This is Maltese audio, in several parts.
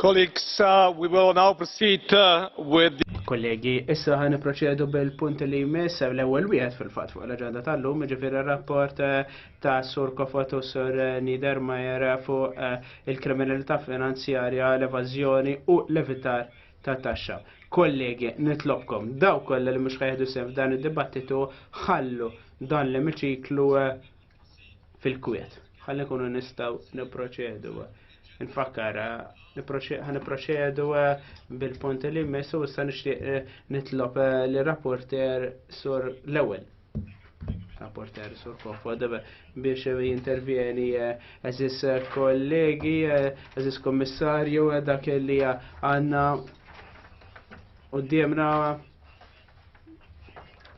Colleagues, uh, we will now proceed uh, with the... Kollegi, issa ħan proċedu bil-punt li jmiss l-ewwel wieħed fil-fatt fuq l-aġenda tal-lum, ġifieri rapport uh, ta' Sur Kofot u Sur Niedermayer fuq il-kriminalità finanzjarja, l-evażjoni u l-evitar ta' taxxa. Kollegi, nitlobkom, daw kollha li mhux ħajħdu sehem f'dan id-dibattitu ħallu dan l-emiċiklu fil-kwiet. Ħalli nkunu nistgħu nipproċedu. Nfakkar, ħaniproċedu bil-punt li jmiss u issa nixtieq nitlob li rapporter sur l-ewwel. Rapporter Sur Kofod biex jintervjeni eżis kollegi, eżis kommissarju, dak li għanna u d-diemna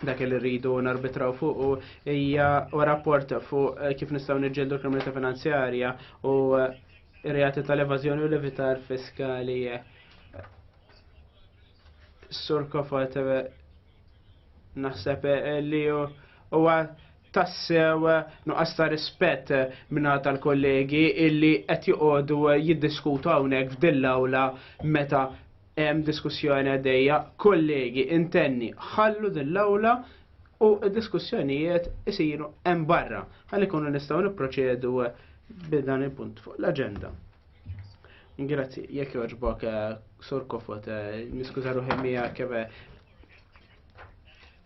dak li rridu narbitraw fuq u hija u rapport fuq kif nistgħu niġġeldu kriminalità finanzjarja u reati tal-evażjoni u l-evitar fiskali Sur Kofot, naħseb li huwa tassew nuqqas ta' rispett minna tal-kollegi illi qed joqogħdu jiddiskutu hawnhekk f'dil awla meta hemm diskussjoni għaddejja. Kollegi, intenni, ħallu dil awla u d-diskussjonijiet isiru hemm barra. Ħalli kunu nistgħu nipproċedu b'dan il-punt fuq l-aġenda. Grazzi, jekk joġbok eh, sur kofot, eh, niskuża ruħi miegħek kebe.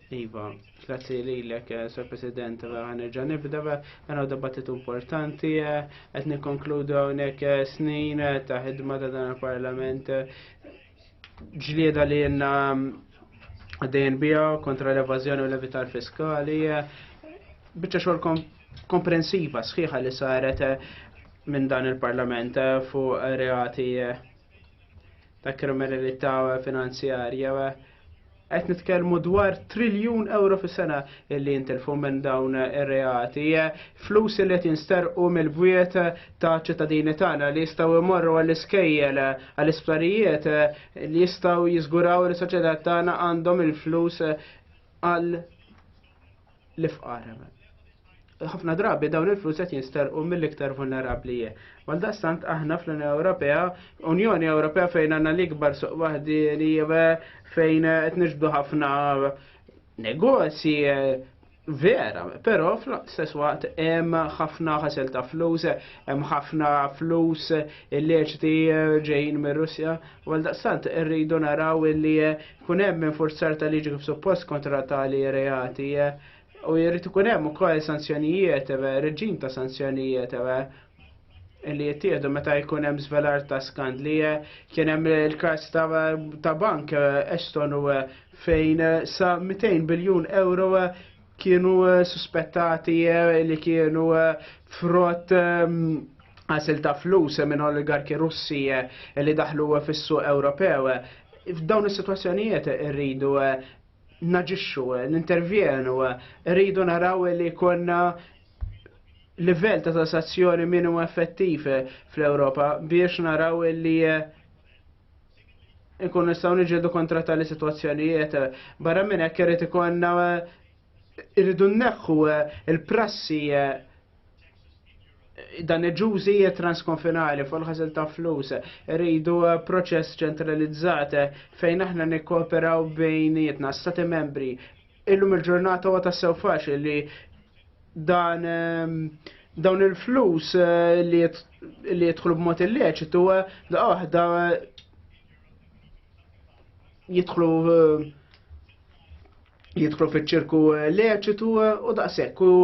Eh, iva, grazzi li l-ek, sur president, għanerġa nibda, għana dibattitu importanti, għet nikonkludu għonek snin ta' ħidma ta' dan il-parlament, ġlieda li jenna għaddejn bija kontra l-evazjoni u l-evitar fiskali, bieċa xorkom komprensiva sħiħa li saret minn dan il-Parlament fuq reati ta' kriminalità finanzjarja. Qed nitkellmu dwar triljun euro fis-sena illi jintilfu minn dawn ir-reati, flus li qed jinsterqu mill-bwiet ta' ċittadini tagħna li jistgħu jmorru għall-iskejjel għall-isptarijiet li jistgħu jiżguraw li soċjetà tagħna għandhom il-flus għal l-ifqar. Ħafna drabi dawn il-flus qed jinsterqu mill-iktar vulnerabbli. Għaldaqstant aħna fl-Unjoni Ewropea, Unjoni Ewropea fejn għandna l-ikbar suq waħdieni fejn qed niġbdu ħafna negozji vera, però fl-istess waqt hemm ħafna ħasel ta' flus, hemm ħafna flus illeċiti ġejjin mir-Russja, għaldaqstant irridu naraw illi Kun hemm infurzar ta' liġi kif suppost kontra tali reati eh, u jrid ikun hemm ukoll sanzjonijiet, eh, reġim ta' sanzjonijiet eh, li jittieħdu meta jkun hemm żvelar ta' skandli. Kien hemm il-każ ta' bank Estonu fejn sa 200 biljun euro kienu eh, suspettati eh, li kienu eh, frott ehm, għasil ta' flus minn oligarki russi li daħlu fis-suq Ewropew. F'dawn is-sitwazzjonijiet irridu naġixxu, nintervjenu, irridu naraw li konna livell ta' tassazzjoni minimu effettiv fl-Ewropa biex naraw li nkun nistgħu niġġieldu kontra tali sitwazzjonijiet. Barra minn hekk irid ikollna irridu nneħħu il-prassi dan il-ġużi transkonfinali fuq ħażil ta' flus. Rridu eh, proċess ċentralizzat eh, fejn aħna nikkooperaw bejnietna stati membri Illum il-ġurnata huwa tassew faċli li dan ehm, dawn il-flus eh, li jidħlu b'mod illeċitu eh, da waħda eh, jidħlu jidħlu fiċ-ċirku leċitu u daqshekk u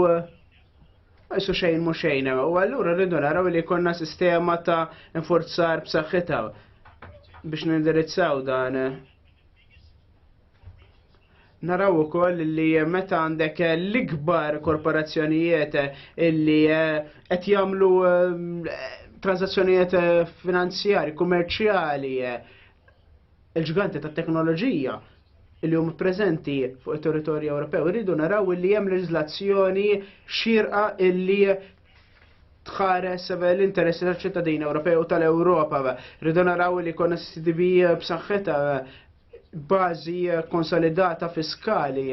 Isu xejn mu xejn, u għallura rridu naraw li konna sistema ta' inforzar b'saħħitha biex nindirizzaw dan. Naraw ukoll li meta għandek l-ikbar korporazzjonijiet illi eh, qed jagħmlu eh, transazzjonijiet eh, finanzjari, kummerċjali, il-ġganti tat teknoloġija li huma preżenti fuq it-territorju Ewropew irridu naraw li hemm leġiżlazzjoni xirqa illi tħares l-interessi tal-ċittadini Ewropew u tal-Ewropa. Rridu naraw li konna CDB b'saħħitha bażi konsolidata fiskali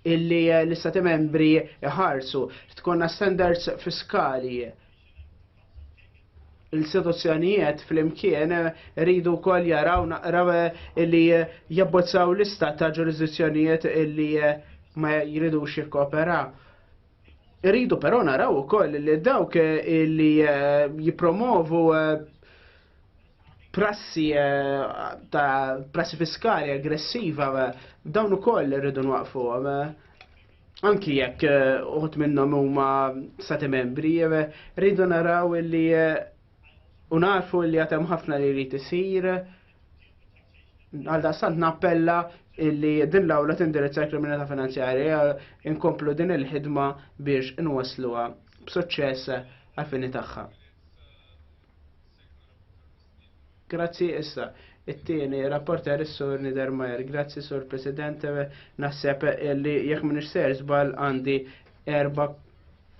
illi eh, l-istati membri ħarsu tkonna standards fiskali l-istituzzjonijiet fl-imkien eh, rridu kol jaraw naqraw eh, illi jabbozzaw lista ta' ġurisdizzjonijiet illi ma jridu xikkopera. Rridu però naraw ukoll li dawk illi jipromovu prassi ta' prassi fiskali aggressiva dawn ukoll irridu nwaqfuhom anki jekk eh, uħut minnhom huma stati membri, eh, rridu naraw li eh, unarfu li għatem ħafna li rrid isir. Għal daqstant nappella li din l-awla tindirizza l-kriminalità finanzjarja inkomplu din il-ħidma biex inwasluha b'suċċess għal-fini tagħha. Grazzi issa. It-tieni, rapporter is-sur Niedermayer. Grazzi sur President, naħseb li jekk minn ser żbal għandi erba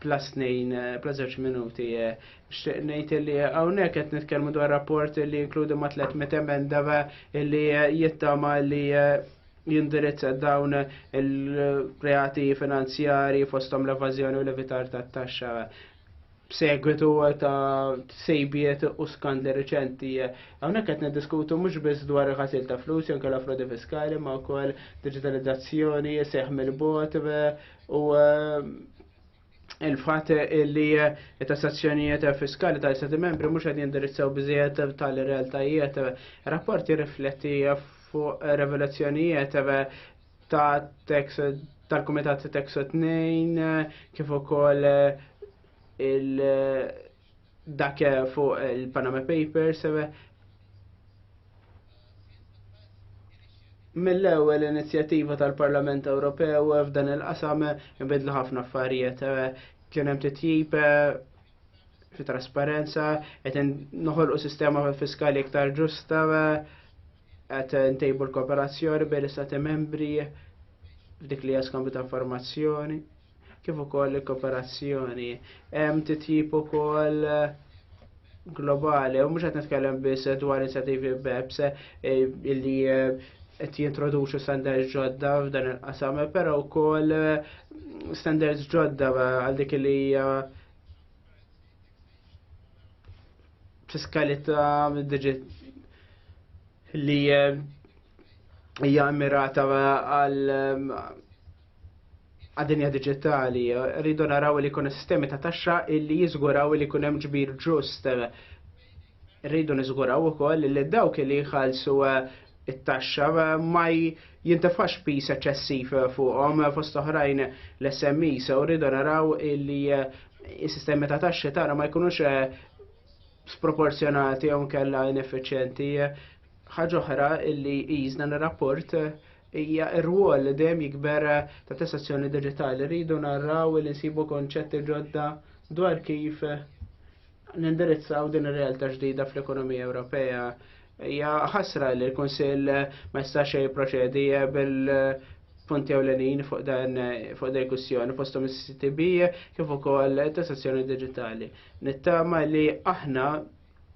plus nejn, plus zewġ minuti. Xtiq nejt li għawnek qed nitkellmu dwar rapport li jinkludi ma' 300 emenda li jittama li jindirizza dawn il-reati finanzjari fostom l-evazjoni u l-evitar tat-taxxa b'segwitu ta' sejbiet u skandli reċenti. Hawnhekk qed niddiskutu mhux biss dwar il-ħasil ta' flus jew kellha frodi fiskali ma' wkoll digitalizzazzjoni, seħ mill-bot u eh, il-fatt li eh, tassazzjonijiet fiskali ta' istati membri mhux qed jindirizzaw biżejjed tal-realtajiet. Rapport jirrifletti fuq revelazzjonijiet ta' tax tal-Kumitat ta' Tax 2 kif ukoll eh, il dak eh, fuq il-Panama Papers eh, mill-ewwel inizjattiva tal-Parlament Ewropew f'dan il-qasam inbidlu ħafna affarijiet kien hemm titjib fi trasparenza qed noħolqu sistema fiskali iktar ġusta Qed ntejbu l-kooperazzjoni bejn l-istati membri f'dik li jaskambju ta' informazzjoni kif ukoll il-kooperazzjoni. Hemm titjib ukoll globali, u mhux qed nitkellem biss dwar inizjattivi BEPS eh, illi eh, qed jintroduċu standards ġodda f'dan il-qasam, però wkoll eh, standards ġodda għal dik li hija fiskalità digit li eh, hija mirata għal eh, għadinja digitali. Rridu naraw li kuna sistemi ta' taxxa illi jizguraw li kunem ġbir ġust. Rridu nizguraw u koll li dawk li jħalsu eh, it-taxxa ma jintefax piż eċċessiv fuqhom fost oħrajn l-SMEs u rridu naraw li s-sistemi ta' taxxi tagħna ma jkunux sproporzjonati jew kella ineffiċjenti. Ħaġa oħra li jizna rapport hija r-rwol li dejjem jikber ta' tassazzjoni digitali. Rridu narraw li nsibu konċetti ġodda dwar kif nindirizzaw din ir-realtà ġdida fl-ekonomija Ewropea. Hija ħasra li l-Kunsill ma jistax jipproċedi bil-punti ewlenin fuq dan fuq din kwistjoni fosthom is-CCTB kif ukoll tassazzjoni diġitali. Nittama li aħna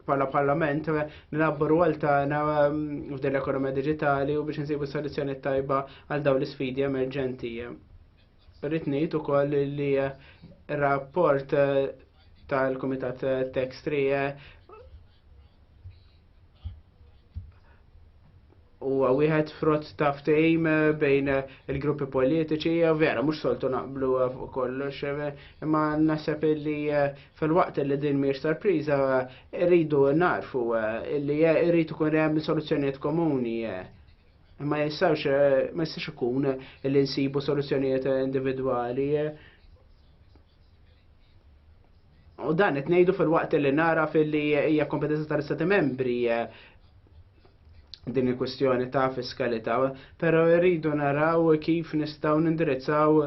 bħala parlament nilabbu rwol tagħna mm, f'din l-ekonomija diġitali u biex nsibu soluzzjoni tajba għal dawn l-isfidi emerġenti. Rrid ngħid ukoll li eh, rapport eh, tal-Kumitat eh, Textri huwa wieħed frott ta' ftehim bejn il-gruppi politiċi, vera, mhux soltu naqblu fuq kollox, imma naħseb li fil-waqt li din mhijiex sorpriża rridu narfu li rridu kun hemm soluzzjonijiet komuni Ma jistawx, eh, ma jistax ikun li nsibu soluzzjonijiet individwali. U dan qed ngħidu fil-waqt li nara fil-li hija kompetenza tal-Istati membri eh, din il-kwestjoni ta' fiskalità, però rridu naraw kif nistgħu nindirizzaw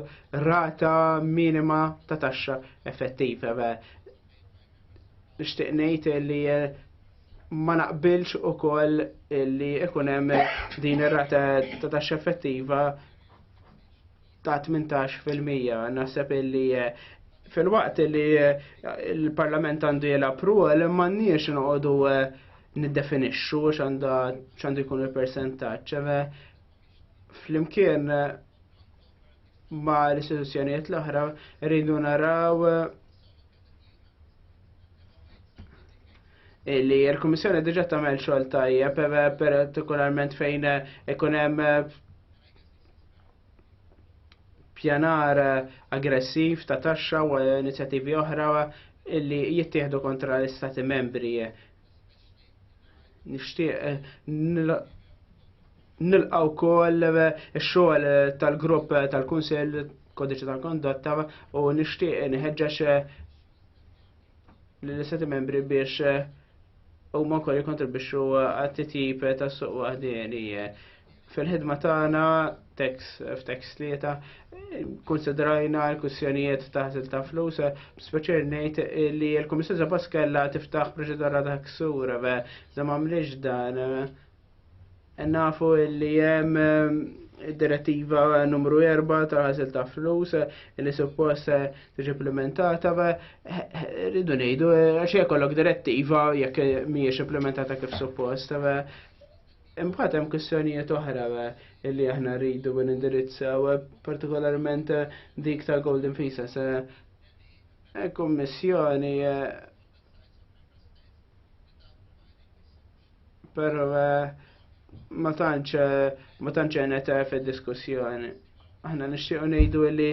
rata minima ta' taxxa effettiva. Nixtieq ngħid li eh, ma naqbilx ukoll li ikun hemm din ir-rata ta' taxxa effettiva ta' 18 fil-mija. Naħseb illi eh, fil-waqt li eh, il-Parlament għandu jilgħab rwol m'għandniex noqogħdu niddefinixxu x'għandu jkun il-persentaġġ. Flimkien ma l-istituzzjonijiet l-oħra rridu naraw li l-Komissjoni diġa tagħmel xogħol tajjeb partikolarment fejn ikun hemm pjanar aggressiv ta' taxxa u inizjattivi oħra illi jittieħdu kontra l-istati membri. Nixtieq eh, nilqaw kol eh, xogħol tal-grupp tal-Kunsell kodiċi tal-kondotta u nixtieq nħeġġeġ eh, l-istati membri biex eh, u ma kolli kontribuxu eh, għat-titjib ta' suq wahdini. Fil-ħidma tagħna tekst f'tekst tlieta konsidrajna l-kussjonijiet ta' ħasil ta' flus, speċer ngħid li l-Kummissjoni Zabaskella tiftaħ proċedura ta' ksur, da ma mliex dan Nafu li jem direttiva numru 4 ta' ħasil ta' flus li suppost tiġi implementata rridu ngħidu għax jkollok direttiva jekk mhijiex implementata kif suppost. Imbagħad hemm kwistjonijiet oħra li aħna rridu nindirizzaw partikolarment dik ta' Golden Visas. Kummissjoni Pero eh, ma tantx eh, ma tantx għenet eh, fid-diskussjoni. Aħna nixtiequ ngħidu li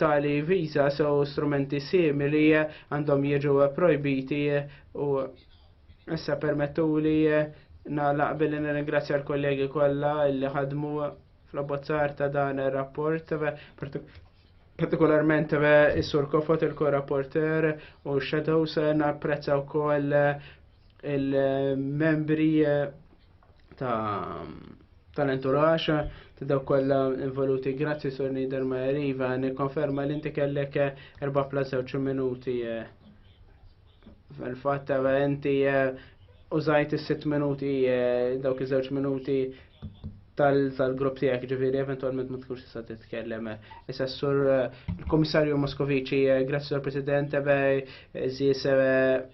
tali visa sew strumenti simili għandhom jiġu projbiti u issa permettu li nagħlaq billi nirringrazzja l-kollegi kollha li ħadmu fl-abbozzar ta' dan ir-rapport partikolarment is-sur Kofot il-korrapporter u shadows napprezza wkoll il-membri eh, ta' tal-enturax ta' daw kollha involuti. Grazzi Sur Nider Iva, nikkonferma li inti kellek eh, erba' plus żewġ minuti. Eh. Fil-fatt inti użajt is-sitt minuti dawk iż-żewġ minuti tal-grupp tiegħek ġifieri eventwalment ma tkunx tista' titkellem. Issa sur il-Kummissarju Moskoviċi, grazzi Sur President, żies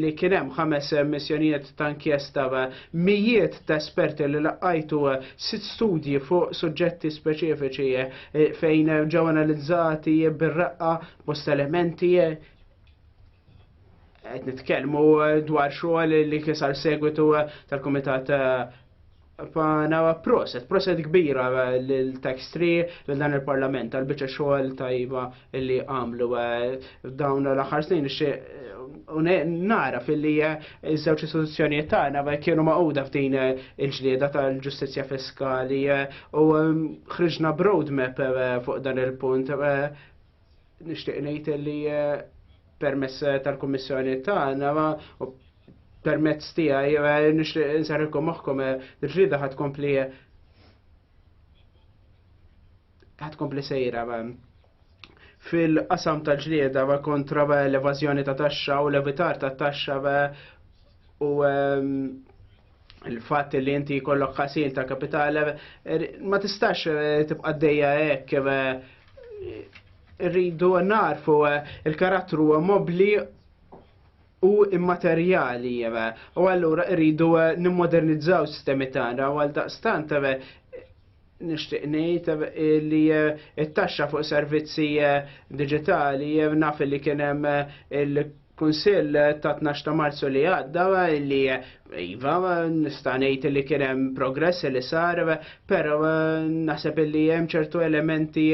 li kien hemm ħames missjonijiet ta' inkjesta mijiet ta' esperti li laqajtu sitt studji fuq suġġetti speċifiċi eh, fejn ġew analizzati bir-raqqa bost elementi eh, qed nitkellmu dwar xogħol li kisar segwitu eh, tal-Kumitat Pana proset, proset kbira l-tax tree l-dan il-parlament għal-bicċa xogħol tajba li għamlu eh, dawn l-aħħar snin eh, nara fil-li eh, iż-żewġ istituzzjonijiet tagħna kienu maquda f'din il-ġlieda tal-ġustizzja fiskali u ħriġna broadmap fuq dan il-punt Nixtieq ngħid li eh, permess eh, tal-Kummissjoni tagħna u permezz tiegħi eh, nixtieq insarrikom moħħkom il-ġrida ħad kompli ħad kompli sejra fil-qasam tal-ġlieda kontra l-evażjoni ta' taxxa u l-evitar ta' taxxa u ehm, il-fat li inti kollok ħasil ta' kapital er, ma tistax eh, tibqa' dejja hekk eh, rridu narfu eh, il-karattru mobli u immaterjali u allura rridu nimmodernizzaw sistemi tagħna u għal daqstant nishtiq ngħid eh, li eh, t-taxxa fuq servizzi eh, digitali naf li kien hemm il Kunsill ta' 12 ta' Marzu li għadda li iva nista' ngħid li kien hemm progress li sar, però naħseb li hemm ċertu elementi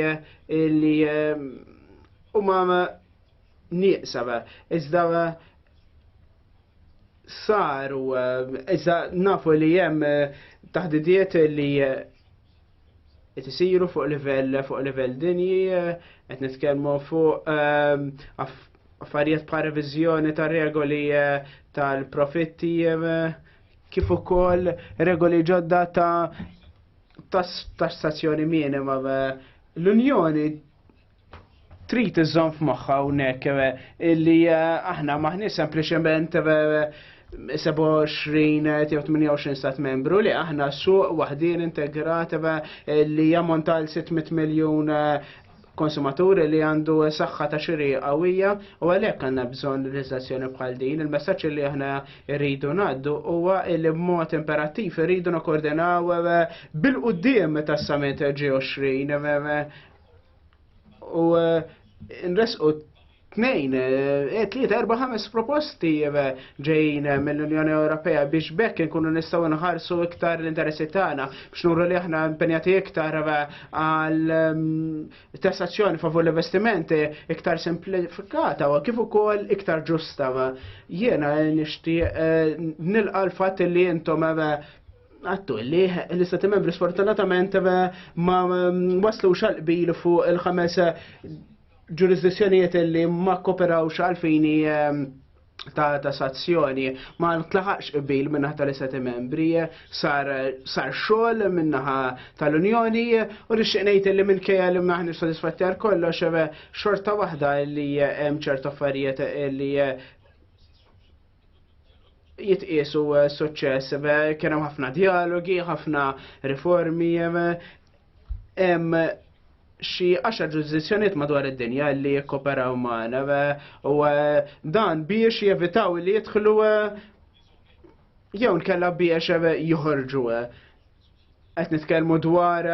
li eh, huma nieqsa iżda saru eh, iżda nafu li hemm eh, taħdidiet li qed isiru fuq livell fuq livell dinji, qed nitkellmu fuq ehm, affarijiet bħal reviżjoni ta' regoli eh, tal-profitti eh, kif ukoll regoli ġodda ta' tassazzjoni minima. Eh, L-Unjoni trid iżżomm f'moħħa hawnhekk eh, illi eh, aħna maħni sempliċement 27 eh, jew 28 stat membru li aħna suq waħdin integrat li jammonta għal 600 miljun konsumaturi li għandu saħħa ta' xiri qawwija u għalhekk għandna bżonn leġislazzjoni bħal din. Il-messaġġ li aħna rridu ngħaddu huwa li b'mod imperattiv rridu nokordinaw bil-qudiem tas-summit G20 U eh, nresqu tnejn, eh, eh, tlieta, erba' ħames proposti ġejjin mill-Unjoni Ewropea biex bekk nkunu nistgħu nħarsu iktar l-interessi tagħna biex nuru li aħna impenjati iktar għal mm, tassazzjoni favur l-investimenti iktar simplifikata u kif ukoll iktar ġusta. Jiena nixtieq nilqa' l-fatt li intom għattu li l-istati membri sfortunatament ma waslu xalqbil fuq il-ħames ġurisdizzjonijiet li ma kooperawx għalfini ehm, ta' ta' sazzjoni ma tlaħaqx qbil minnaħ tal-istati membri sar sar xogħol minnaħa tal-Unjoni u nixtieq ngħid li minkejja li maħni sodisfatti għal kollox xorta waħda li hemm ċerta affarijiet li jitqiesu eh, suċċess. Kien hemm ħafna dialogi, ħafna riformi, hemm xi għaxar ġurisdizzjonijiet madwar id-dinja li jikkoperaw magħna u eh, dan biex jevitaw li jidħlu eh, jew nkella biex joħorġu qed nitkellmu dwar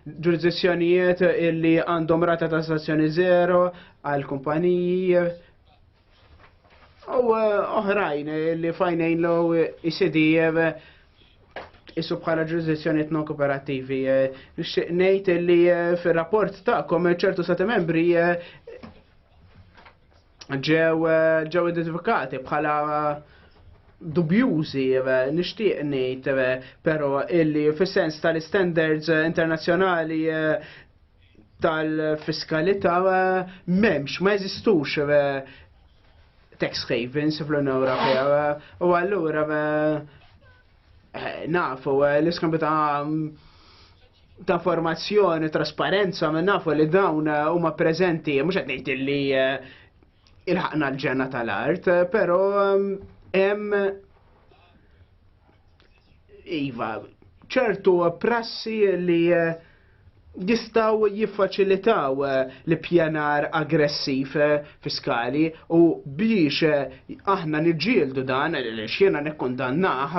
ġurisdizzjonijiet illi għandhom rata ta' stazzjoni zero għal kumpaniji U eh, oħrajn eh, li fajnejn l jisidi eh, jisu bħala ġurisdizzjoni non kooperativi. Nixtieq ngħid li fir-rapport tagħkom ċertu sati membri ġew ġew identifikati bħala dubjużi nixtieq ngħid però illi fis-sens tal-standards internazzjonali tal-fiskalità m'hemmx, ma jeżistux tax havens fl-Unjoni Ewropea u allura nafu l-iskambju ta' ta' informazzjoni, trasparenza, minn nafu li dawn eh, huma preżenti, mhux qed ngħid li eh, il-ħaqna l-ġenna tal-art, però eh, hemm iva ċertu prassi li jistgħu jiffaċilitaw l-ippjanar aggressiv fiskali u biex aħna niġġieldu dan li x'jiena nikkundannaħ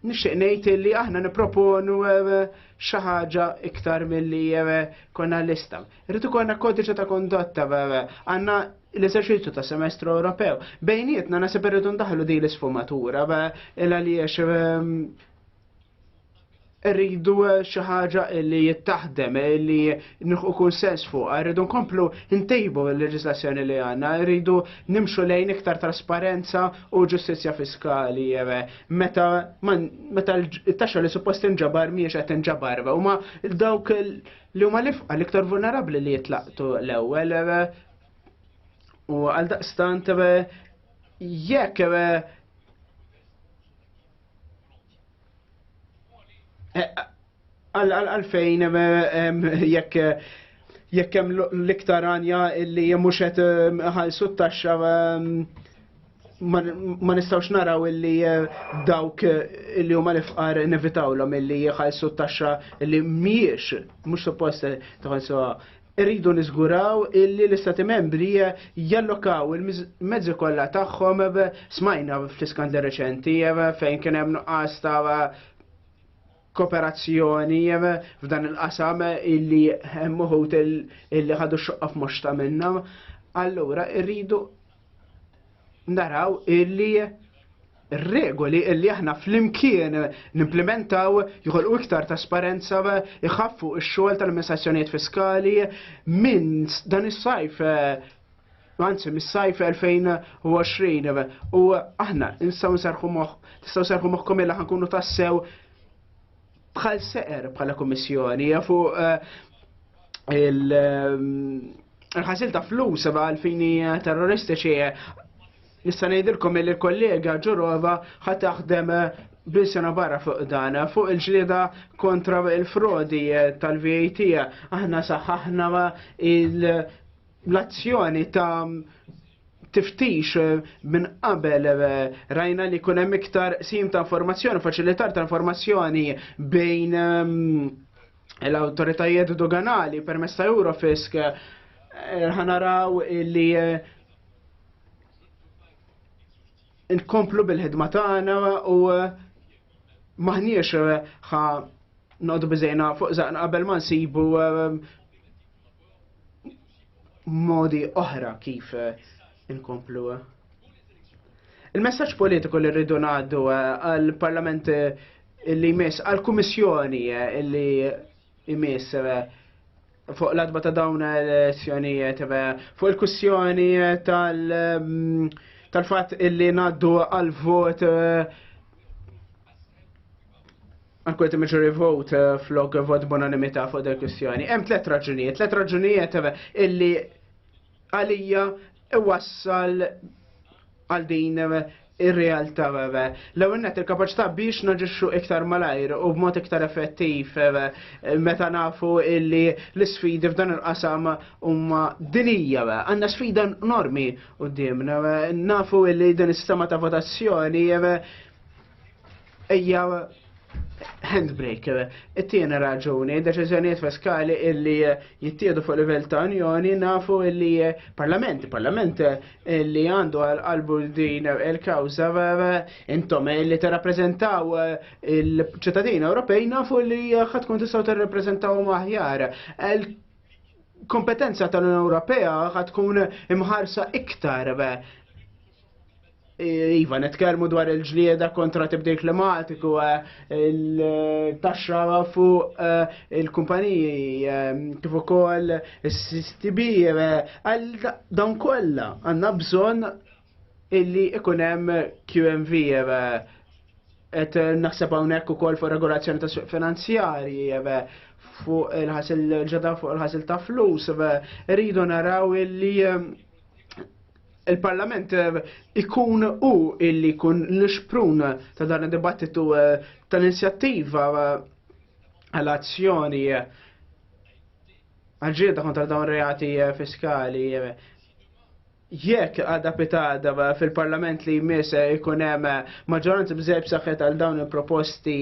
nixtieq ngħid li aħna nipproponu xi ħaġa iktar milli konna lista. Rrid ikollna kodiċi ta' kondotta għandna l-eżerċizzju ta' semestru Ewropew. Bejnietna nasib irridu ndaħlu din l-isfumatura il għaliex rridu eh, xi ħaġa li jittaħdem, eh, li nħu kull sens fuq, eh, rridu nkomplu ntejbu l-leġislazzjoni li għanna, rridu nimxu lejn iktar trasparenza u ġustizzja fiskali, meta meta l-taxxa li suppost inġabar miex qed inġabar, u ma dawk li huma l-ifqa l-iktar vulnerabbli li jitlaqtu l-ewwel u għal daqstant jekk Eh, għalfejn jekk jekk hemm l-iktar għanja li mhux qed ħalsu t-taxxa ma nistgħux naraw illi eh, dawk eh, illi huma l-ifqar nevitawlhom illi jħallsu t-taxxa li mhijiex mhux suppost tħallsuha Irridu niżguraw illi l-Istati Membri jallokaw il-mezzi kollha tagħhom smajna fl-iskandli reċenti fejn kien hemm nuqqas ta' kooperazzjoni f'dan il-qasam illi hemm uħud illi ħadu xoqqa f'moxta minnha. Allura irridu naraw illi regoli illi aħna fl-imkien nimplementaw jħolqu iktar trasparenza iħaffu x-xogħol tal-amministrazzjonijiet fiskali minn dan is-sajf Anzi, mis-sajf 2020 u aħna nistgħu nserħu moħħ, tistgħu serħu moħħkom illa ħankunu tassew bħal seqer bħala kummissjoni fuq eh, il- eh, il-ħasil ta' flus għal fini terroristiċi. Nista' ngħidilkom li l-kollega Ġurova ħa taħdem bisena barra fuq dan, fuq il-ġlieda kontra il-frodi tal-VAT, aħna saħħaħna l-azzjoni ta' tiftix minn qabel rajna li kunem iktar sim ta' informazzjoni, faċilitar ta' informazzjoni bejn l-autoritajiet doganali permess ta' Eurofisk eh, ħanaraw li eh, nkomplu bil-ħidma tagħna u eh, maħniex ħa noqdu biżejna fuq zaqna qabel ma nsibu modi oħra kif nkomplu. Il-messaġġ politiku li rridu ngħaddu għall-Parlament Illi jmiss għal-Kummissjoni illi jmiss fuq l-adba ta' dawn l-elezzjonijiet fuq il-kussjoni tal- tal-fatt illi naddu għal-vot għankwet meġuri vot eh, flok vot bonanimita fuq del kwistjoni. Hemm tlet raġunijiet, tlet raġunijiet eh, illi għalija iwassal għal din ir-realtà l-ewwel net il-kapaċità biex naġixxu iktar malajr u b'mod iktar effettiv meta nafu illi l-isfidi f'dan il-qasam huma dinija. Għandna sfida enormi qudiemna nafu illi din is-sistema ta' votazzjoni Ejja handbrake. It-tiena raġuni, deċiżjonijiet fiskali illi jittiedu fuq livell ta' unjoni nafu illi parlament, parlament illi għandu għal-qalbu din il-kawza intom illi t-rapprezentaw il-ċittadini Ewropej nafu illi ħatkun tistaw t-rapprezentaw maħjar kompetenza tal-Unjoni Ewropea ħad tkun imħarsa iktar Iva, netkermu dwar il-ġlieda kontra tibdil klimatiku, eh, il-taxxa fuq eh, il-kumpaniji, eh, kif ukoll is-CCTB, għal dawn kollha għandna bżonn illi ikun hemm QMV et naħseb hawnhekk ukoll fuq regolazzjoni ta' suq finanzjarji fuq il-ħasil ġeda fuq il-ħasil ta' flus, rridu naraw illi il-Parlament eh, ikun u illi kun l-xprun ta' dan id-dibattitu eh, tal-inizjattiva eh, għal-azzjoni għagġieda kontra dawn reati fiskali jekk għadha pitada fil-parlament li jmiss ikun hemm maġġoranza bżejb saħħet għal dawn il-proposti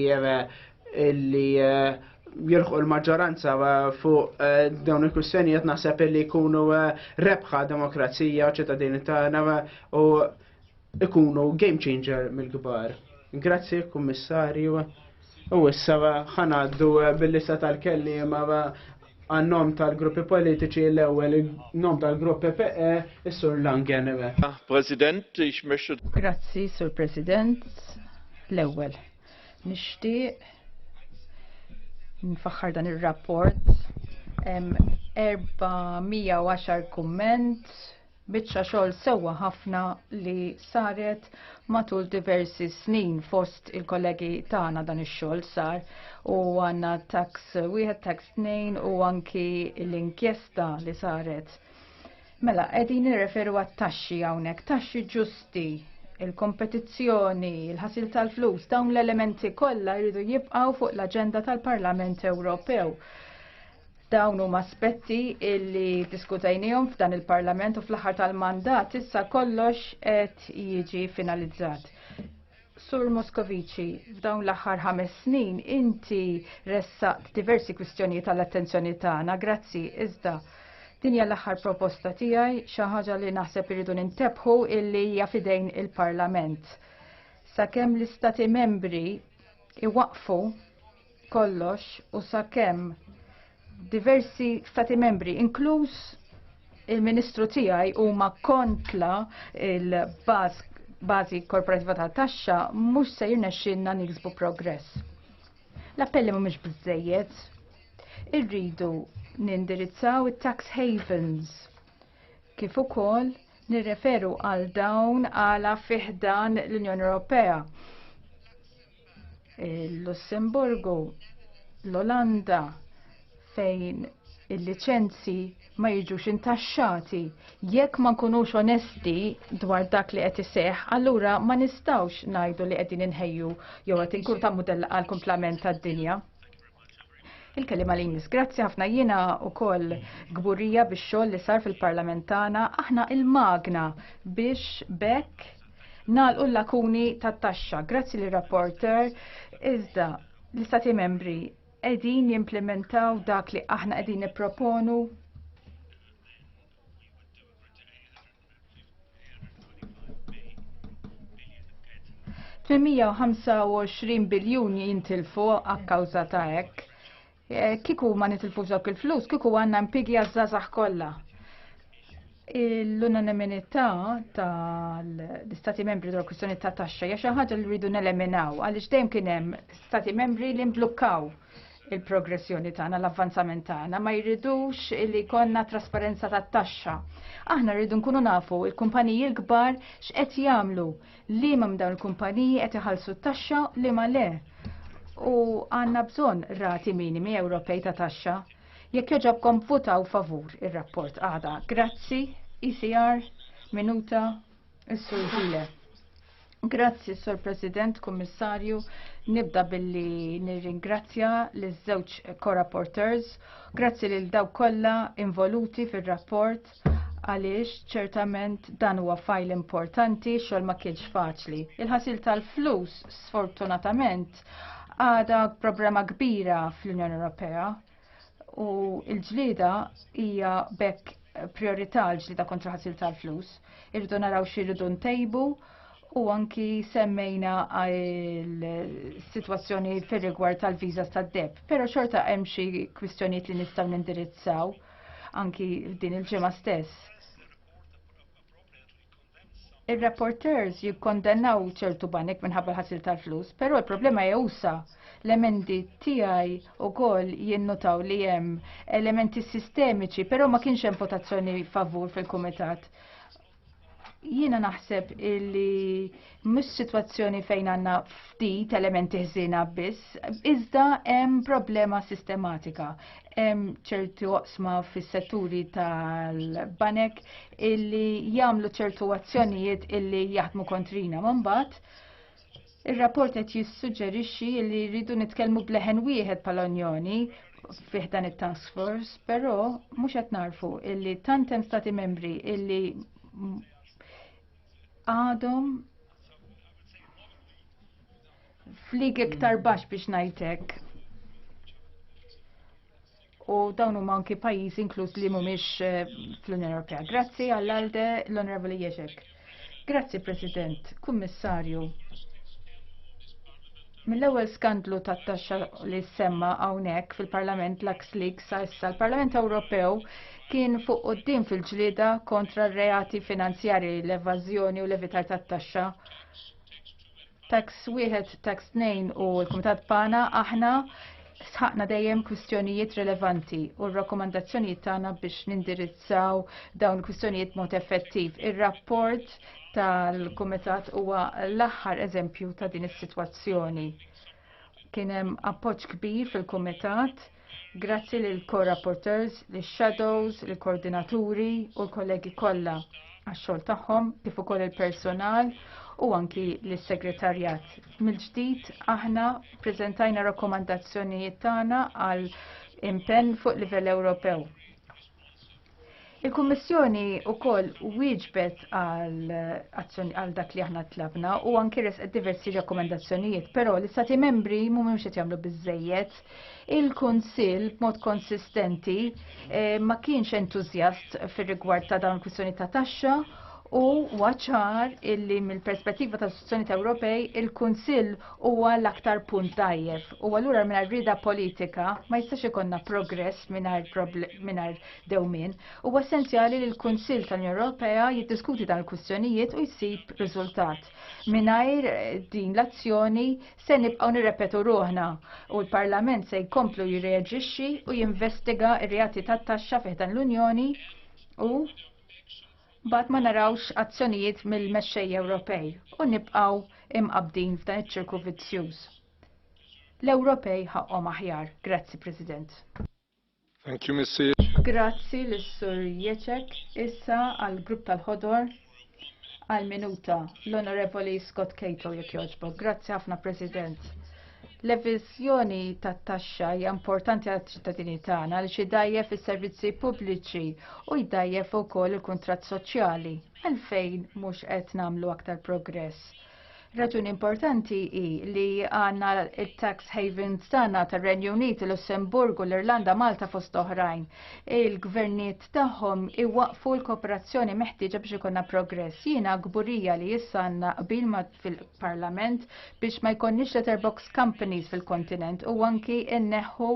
Illi jirħu l-maġġoranza eh, fuq eh, dawn il-kwistjonijiet naħseb li jkunu eh, rebħa demokrazija u ċittadini tagħna u ikunu game changer mill-kbar. Grazzi, kummissarju. U issa ħanaddu bil-lista tal-kellim għannom tal-gruppi politiċi l-ewel, nom tal-gruppi PE, Sur Langen. Ah, President, ix Grazzi, Sur President, l-ewel. Nixtieq nfaħħar dan ir-rapport 410 kumment biċċa xogħol sewwa ħafna li saret matul diversi snin fost il-kollegi tagħna dan ix-xogħol sar u għandna tax wieħed tax tnejn u anki l-inkjesta li saret Mela, qegħdin nirreferu għat-taxxi hawnhekk, taxxi ġusti, il-kompetizzjoni, il-ħasil tal-flus, dawn l-elementi kollha jridu jibqgħu fuq l-aġenda tal-Parlament Ewropew. Dawn huma aspetti illi diskutajnijom f'dan il-Parlament u fl-aħħar tal-mandat issa kollox qed jiġi finalizzat. Sur Moskovici, f'dawn l-aħħar ħames snin inti ressaqt diversi kwistjonijiet għall-attenzjoni tagħna, grazzi, iżda din hija l-aħħar proposta tiegħi xi ħaġa li naħseb irridu nintebħu illi hija fidejn il-Parlament. Sakemm l-istati membri iwaqfu kollox u sakemm diversi stati membri, inkluż il-ministru tiegħi huma kontla il-bażi korporativa ta' taxxa mhux se jirnexxinna niksbu progress. L-appelli mhumiex biżejjed. Irridu nindirizzaw it-tax havens kif ukoll nirreferu għal dawn għala fiħdan l-Unjoni Ewropea Il-Lussemburgu, l-Olanda, fejn il-liċenzi ma jiġux intaxxati. Jekk ma nkunux onesti dwar dak li qed iseħħ, allura ma nistgħux ngħidu li qegħdin inħejju jew qed inkun ta' mudell għal kumplament tad-dinja. Il-kelima li jmiss, grazzi ħafna jiena u koll gburija biex xoll li sar fil-parlament tagħna, aħna il-magna biex bekk nalqu l-lakuni tat taxxa. Grazzi li rapporter, iżda l-istati membri edin jimplementaw dak li aħna edin niproponu 825 biljun jintilfu għakkawża ta' hekk. Eh, kiku ma nitilfu dawk il-flus, kiku għanna mpigi għazzazax kollha. L-unanimità tal-istati membri dwar kwistjoni ta' taxxa hija xi ħaġa li rridu neleminaw għaliex dejjem kien hemm stati membri li mblukkaw il-progressjoni tagħna, l-avvanzament tagħna, ma jridux li konna trasparenza tat taxxa. Aħna rridu nkunu nafu il-kumpaniji l-kbar x'qed jagħmlu li ma dawn il-kumpaniji qed iħallsu t-taxxa li ma le. U għandna bżonn rati minimi Ewropej ta' taxxa. Jekk joġobkom votaw favur ir-rapport għada. Grazzi, ECR, minuta, is-sur Grazzi, Sur President, Kummissarju. Nibda billi nirringrazzja l żewġ co-rapporteurs. Grazzi lil daw kollha involuti fir-rapport għaliex ċertament dan huwa fajl importanti xogħol ma kienx faċli. Il-ħasil tal-flus sfortunatament għada problema kbira fl-Unjoni Ewropea. U l-ġlieda hija bekk priorità l-ġlieda kontra ħasil tal-flus. Irridu naraw xirridu ntejbu u anki semmejna il-situazzjoni fir rigward tal-viza tad-deb. Pero xorta hemm xi kwistjonijiet li nistgħu nindirizzaw anki din il-ġimgħa stess. Ir-rapporteurs jikkondennaw ċertu banek minħabba l-ħasil tal-flus, però l-problema hija usa. L-emendi tiegħi wkoll jinnutaw li hemm elementi sistemiċi, però ma kienx hemm votazzjoni favur fil-kumitat. Jiena naħseb illi mhux sitwazzjoni fejn għandna ftit elementi ħżiena biss, iżda hemm problema sistematika. hemm ċerti oqsma fis-setturi tal-banek illi jagħmlu ċertu azzjonijiet illi jaħdmu kontrina. Mbagħad ir-rapport qed jissuġġerixxi li rridu nitkellmu bleħen wieħed bħala Unjoni fih dan it-task force, però mhux qed narfu illi tant hemm stati membri illi għadhom Flik iktar baxx biex ngħidlek. U dawn huma anki pajjiżi inkluż li mhumiex eh, fl-Unjoni Ewropea. Grazzi għall-Alde l-Onorevoli Jeżek. Grazzi President, Kummissarju. Mill-ewwel skandlu tat-taxxa li semma hawnhekk fil-Parlament l Leaks sa issa l-Parlament Ewropew kien fuq quddiem fil-ġlieda kontra r-reati finanzjarji, l-evażjoni u l-evitar tat-taxxa. Tax wieħed, tax tnejn u l-Kumitat Pana aħna sħaqna dejjem kwistjonijiet rilevanti u r-rakkomandazzjonijiet tagħna biex nindirizzaw dawn il-kwistjonijiet mod effettiv. Ir-rapport tal-Kumitat huwa l-aħħar eżempju ta' din is-sitwazzjoni. Kien hemm appoġġ kbir fil-Kumitat Grazzi lil co-rapporteurs, lil shadows, lil koordinaturi u l-kollegi kollha għax-xogħol tagħhom kif ukoll il-personal u anki lis-segretarjat. Mill-ġdid aħna ppreżentajna rakkomandazzjonijiet tagħna għal impenn fuq livell Ewropew. Il-Kummissjoni wkoll wieġbet għal dak li aħna tlabna u anki resqet diversi rakkomandazzjonijiet, però l-Istati membri mhumiex qed jagħmlu biżżejjed. Il-Kunsill b'mod konsistenti eh, ma kienx entużjast fir-rigward ta' dawn il-kwistjoni ta' taxxa u waċar illi mill-perspettiva ta' istituzzjoni Ewropej il-Kunsill huwa l-aktar punt dajjef u allura mingħajr rida politika ma jistax ikonna progress mingħajr dewmien. Huwa essenzjali li l-Kunsill tal-Unjoni Ewropea jiddiskuti dan il-kwistjonijiet u jsib riżultat. Mingħajr din l-azzjoni se nibqgħu nirrepetu ruħna u l-Parlament se jkomplu jirreaġixxi u jinvestiga r-reati tat-taxxa fih dan l-Unjoni u Bat ma narawx azzjonijiet mill-mexxej Ewropej u nibqgħu imqabdin f'dan iċ-ċirku vizzjuż. L-Ewropej ħaqqhom aħjar. Grazzi, President. Thank you, Mr. Grazzi l-Sur Jeċek. Issa għal-grupp tal-ħodor għal-minuta l-Onorevoli Scott Cato jek joġbok. Grazzi ħafna, President. L-eviżjoni tat-taxxa hija importanti għaċ-ċittadini tagħna li xi dajjef is-servizzi pubbliċi u jdajjef ukoll il-kuntratt soċjali. Għalfejn mhux qed nagħmlu aktar progress? Raġuni importanti hi li għandna il-tax havens tagħna tar-Renju Unit, il-Lussemburgu, l-Irlanda, Malta fost oħrajn. Il-gvernijiet tagħhom iwaqfu l-kooperazzjoni meħtieġa biex ikonna progress. Jiena gburija li issa għandna qbil fil parlament biex ma jkonniex letterbox companies fil-kontinent u anki inneħħu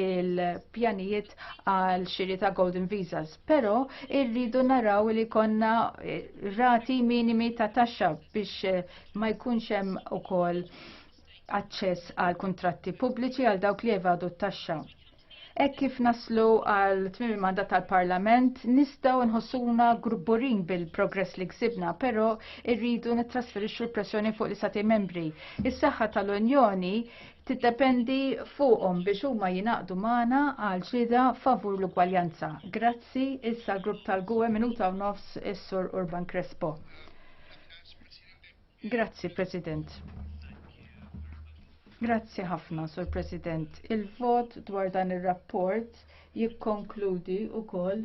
il-pjanijiet għal xiri ta' golden visas. Pero irridu naraw li konna eh, rati minimi ta' taxxa biex eh, ma jkunx hemm ukoll aċċess għal kuntratti pubbliċi għal dawk li evadu t-taxxa. Hekk kif naslu għal tmiem il-mandat tal-Parlament, nistgħu nħossuna grubburin bil-progress li ksibna, però rridu nittrasferixxu l-pressjoni fuq l-Istati membri. Is-saħħa tal-Unjoni tiddependi fuqhom biex huma jingħaqdu magħna għal ġlieda favur l-ugwaljanza. Grazzi issa grupp tal-GUE minuta u nofs is-Sur Urban Crespo. Grazzi, President. Grazzi ħafna, Sur President. Il-vot dwar dan ir-rapport jikkonkludi wkoll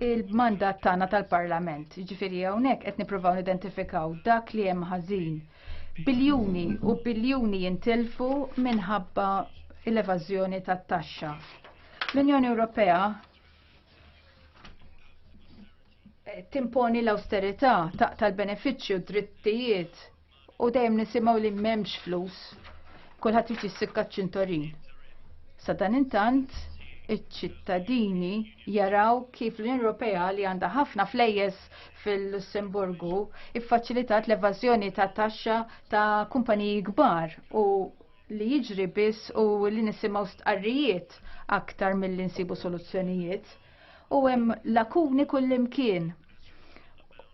il-mandat tagħna tal-Parlament. Ġifieri hawnhekk qed nippruvaw nidentifikaw dak li hemm ħażin. Biljuni u biljuni jintilfu minħabba l-evażjoni tat-taxxa. L-Unjoni Ewropea timponi l-austerità, taqta' l-benefiċċji u d-drittijiet u dejjem nisimgħu li m'hemmx flus. Kulħadd irid jissikka ċ-ċintorin. Sa dan intant iċ-ċittadini jaraw kif l-Unjoni Ewropea li għandha ħafna flejjes fil-Lussemburgu iffaċilitat l-evażjoni ta' taxxa ta' kumpaniji kbar u li jiġri biss u li nisimgħu stqarrijiet aktar mill-insibu soluzzjonijiet u hemm lakuni kullimkien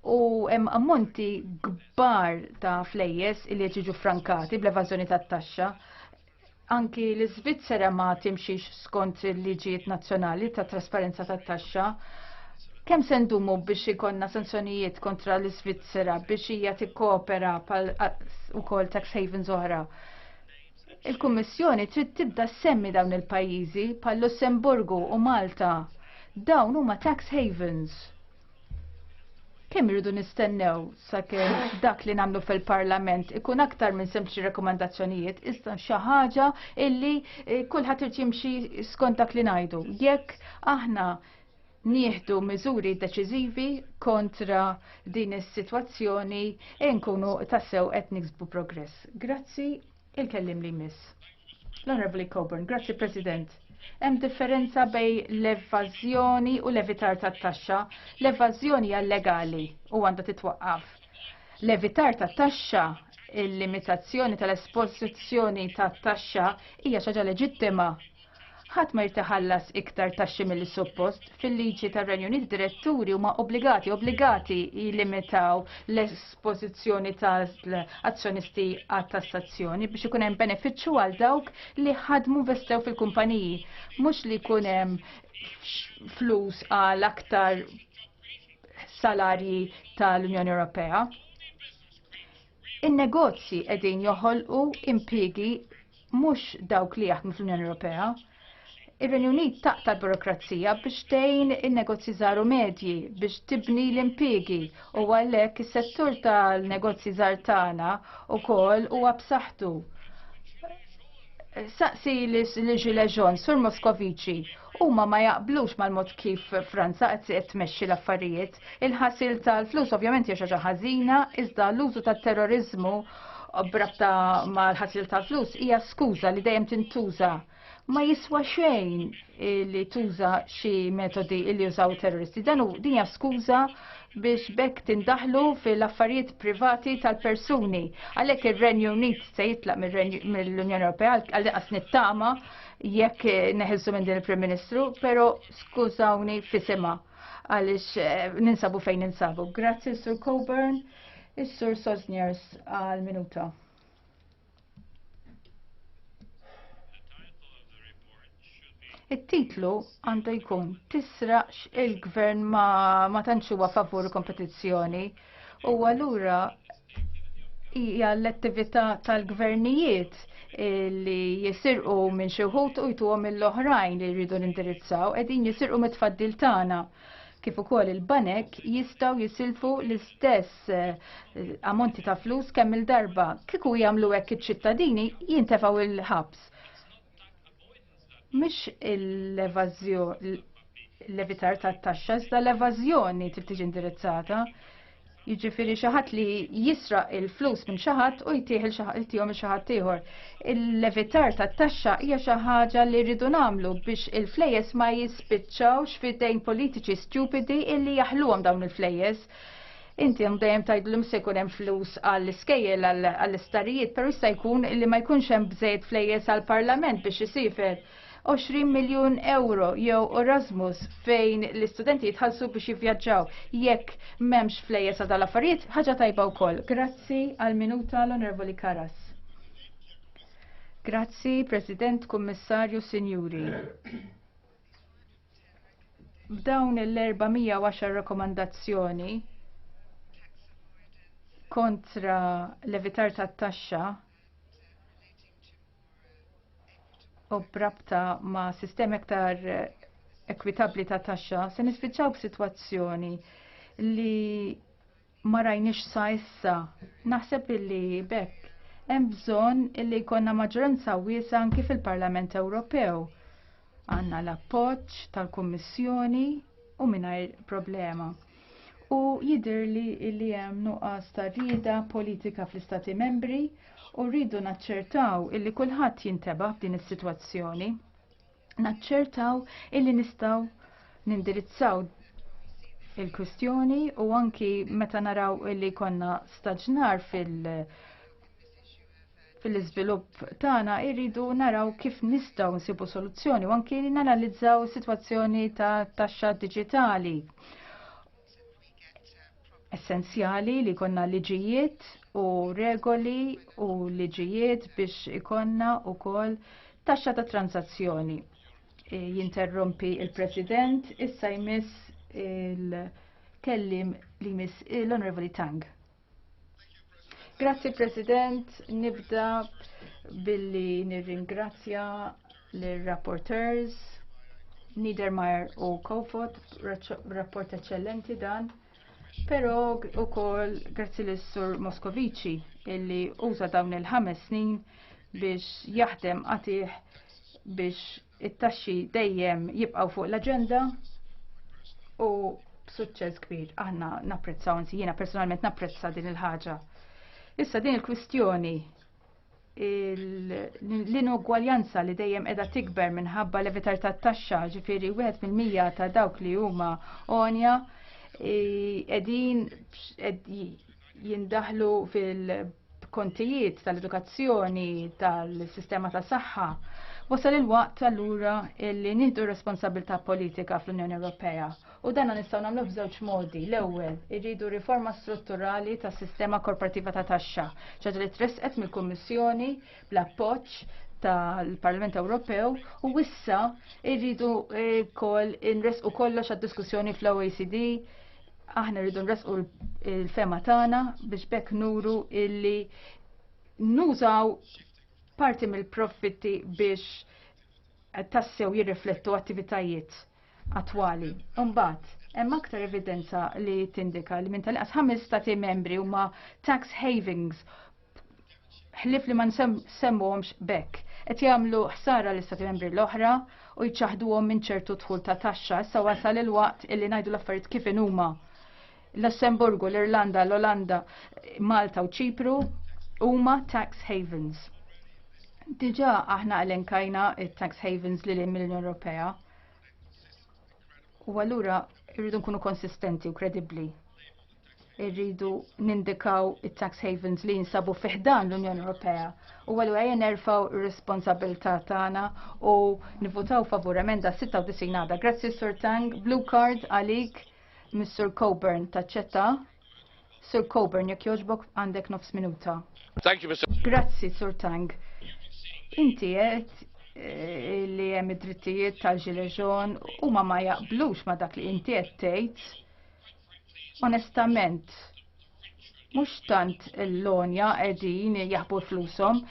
u hemm ammonti kbar ta' flejjes li qed jiġu frankati bl-evażjoni tat-taxxa. Anki l-Iżvizzera ma timxix skont il-liġijiet nazzjonali ta' trasparenza tat-taxxa. Kemm se ndumu biex ikonna sanzjonijiet kontra l-Iżvizzera biex hija tikkopera pal ukoll tax havens oħra? Il-Kummissjoni trid tibda semmi dawn il-pajjiżi bħal Lussemburgu u Malta. Dawn huma tax havens. Kemm irridu nistennew sakemm dak li nagħmlu fil-Parlament ikun aktar minn sempliċi rekomandazzjonijiet iżda xi ħaġa illi eh, kulħadd irid jimxi skont dak li ngħidu. Jekk aħna nieħdu miżuri deċiżivi kontra din is-sitwazzjoni e nkunu tassew qed niksbu progress. Grazzi il-kellim li miss. L-Onorevoli Coburn, grazzi President. Hemm differenza bej l-evażjoni u l-evitar tat-taxxa. L-evażjoni hija legali u għandha titwaqqaf. L-evitar tat-taxxa il-limitazzjoni tal-esposizzjoni tat-taxxa hija xi ħaġa leġittima Ħadd ma jrid iħallas iktar taxxi milli suppost. Fil-liġi tar-Renju Unit diretturi huma obbligati obbligati jillimitaw l-espożizzjoni ta' azzjonisti għat tassazzjoni biex ikun hemm benefiċċju għal dawk li ħadmu investew fil-kumpaniji. Mhux li jkun hemm flus għal aktar salarji tal-Unjoni Ewropea. In-negozji qegħdin joħolqu impjiegi mhux dawk li jaħdmu fl-Unjoni Ewropea. Ir-Renju Unit taqta' l-burokrazija biex tgħin in-negozji żgħar u medji biex tibni l-impjiegi u għalhekk is-settur tal-negozji żgħar tagħna wkoll huwa b'saħħtu. Saqsi li Gilles Jean, Sur Moskoviċi, huma ma jaqblux mal-mod kif Franza qed tmexxi l-affarijiet. Il-ħasil tal-flus ovvjament hija xi ħażina, iżda l-użu tat-terrorizmu brabta mal-ħasil tal-flus hija skuża li dejjem tintuża. Ma jiswa xejn li tuża xi metodi li jużaw terroristi. Dan hu din hija skuża biex bekk tindaħlu fil-affarijiet privati tal-persuni. Għalhekk ir-Renju Unit se jitlaq mill-Unjoni Ewropea għal qas nittama jekk neħilsu minn din il-Prim Ministru, però skużawni fisima. għaliex eh, ninsabu fejn ninsabu. Grazzi Sur Coburn, is-Sur Sosniers għal minuta. It-titlu għandu jkun tisraqx il-gvern ma, ma tantx huwa favur kompetizzjoni. U allura hija l-attività tal-gvernijiet li jisirqu minn xi wħud u jtuhom mill-oħrajn li jridu nindirizzaw qegħdin jisirqu mit-tfaddil tagħna kif ukoll il-banek jistgħu jisilfu l-istess eh, ammonti ta' flus kemm il-darba. Kieku jagħmlu hekk iċ-ċittadini jintefgħu il-ħabs. Mhix l-evażjoni l-evitar tat-taxxa iżda l-evażjoni trid tiġi indirizzata. Jiġifieri xi ħadd li jisraq il-flus minn xi ħadd u jtih il-tihom xi ħadd ieħor. Il-levitar tat-taxxa hija xi ħaġa li rridu nagħmlu biex il-flejjes ma jispiċċawx f'idejn politiċi stupidi illi jaħluhom dawn il-flejjes. Inti hemm dejjem tgħid li se jkun hemm flus għall-iskejjel għall-istarijiet, però jista' jkun li ma jkunx hemm bżejjed flejjes għall-Parlament biex isifer. 20 miljun euro jew Erasmus fejn l-istudenti jitħallsu biex jivvjaġġaw. Jekk m'hemmx flejjes għal affarijiet ħaġa tajba wkoll. Grazzi għal minuta l-Onorevoli Karas. Grazzi, President, Kummissarju, Sinjuri. B'dawn l-410 rakkomandazzjoni kontra l-evitar tat-taxxa u brabta ma' sistemi aktar ekwitabbli ta' taxxa se nispiċċaw b'sitwazzjoni li ma rajniex sa issa. Naħseb illi bekk hemm bżonn illi jkollna maġġoranza wiesa' anki fil-Parlament Ewropew. Għandna l-appoġġ tal-Kummissjoni u mingħajr problema. U jidhirli illi hemm nuqqas ta' rieda politika fl-Istati Membri u rridu naċċertaw illi kulħadd jintebaħ f'din is-sitwazzjoni. naċċertaw illi nistgħu nindirizzaw il-kwistjoni u anki meta naraw li konna staġnar fil- fil-izvilupp tagħna irridu naraw kif nistgħu nsibu soluzzjoni u anki nanalizzaw sitwazzjoni ta' taxxa diġitali. essenzjali li konna liġijiet u regoli u liġijiet biex ikonna u kol taxxa ta' transazzjoni. E, jinterrompi il-President, issa jmiss il-kellim li jmiss l-Onorevoli Tang. Grazzi President, nibda billi nirringrazzja l-rapporteurs Niedermayer u Kofot, rapport eccellenti dan. Pero u kol grazzi l-sur Moskovici illi uża dawn il-ħames snin biex jaħdem għatih biex It-taxxi dejjem jibqgħu fuq l-aġenda u b'suċċess kbir aħna napprezzaw, anzi jiena personalment napprezza din il-ħaġa. Issa din il-kwistjoni l-inugwaljanza li dejjem edha tikber minħabba levitar ta' taxxa ġifiri wieħed fil-mija ta' dawk li huma onja edin jindaħlu fil-kontijiet tal-edukazzjoni, tal-sistema ta' saħħa. Wasal il-waqt allura li nieħdu responsabilità politika fl-Unjoni Ewropea u dan nistgħu nagħmlu f'żewġ modi. L-ewwel, irridu riforma strutturali tas-sistema korporattiva ta' taxxa, ċaġa li tresqet mill-Kummissjoni bl-appoġġ tal-Parlament Ewropew u wissa irridu eh, kol inres u kollox għad-diskussjoni fl-OECD Aħna rridu nresqu l-fema tagħna biex bekk nuru illi nużaw parti mill-profitti biex tassew jirriflettu attivitajiet attwali. Umbat, hemm aktar evidenza li tindika li minn tal-qas ħames stati membri huma tax havings ħlif li ma nsemmuhomx bekk. Qed jagħmlu ħsara l istati membri l-oħra u jċaħduhom minn ċertu dħul ta' taxxa. Issa wasal il-waqt illi ngħidu l-affarijiet kif inhuma. Lussemburgu, l-Irlanda, l-Olanda, Malta u Ċipru huma tax havens. Diġà aħna elenkajna it-tax havens li lejn mill-Unjoni Ewropea. U allura irridu nkunu konsistenti u kredibbli. irridu nindikaw it-tax havens li jinsabu fiħdan l-Unjoni Ewropea. U għallu għajja nerfaw responsabilta tagħna u nivutaw favur emenda 96 għada. Grazzi Sur Tang, Blue Card għalik Mr. Coburn taċċetta. Sur Coburn, jekk joġbok għandek nofs minuta. Thank you, Mr. Grazzi, Sur Tang. Inti għet eh, li hemm id-drittijiet tal-ġileġon u ma ma jaqblux ma dak li inti qed tgħid Onestament, mhux tant l-lonja qegħdin jaħbu flusom,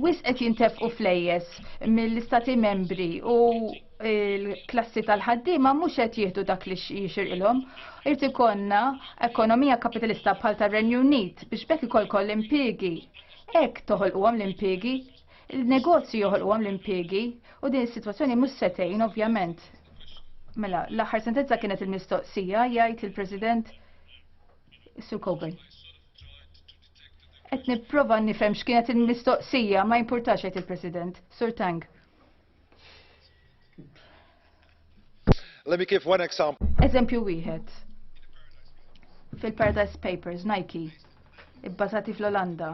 wis qed jintefqu flejjes mill-istati membri u l-klassi tal-ħaddiema mhux qed jieħdu dak li jixirqilhom. Irid ikollna ekonomija kapitalista bħal tar-Renju Unit biex bekk ikollkom l-impjiegi. Hekk toħolquhom l-impjiegi Il-negozju joħolqu għam l-impiegi u din is-sitwazzjoni mhux setejn ovvjament. Mela, l-aħħar sentenza kienet il-mistoqsija jgħid il-President Sue Coburn. Qed nipprova nifhem x'kienet il-mistoqsija ma jimpurtax jgħid il-President. Sur Tang. Let me give one example. Eżempju wieħed. Fil-Paradise Papers, Nike, ibbażati fl-Olanda,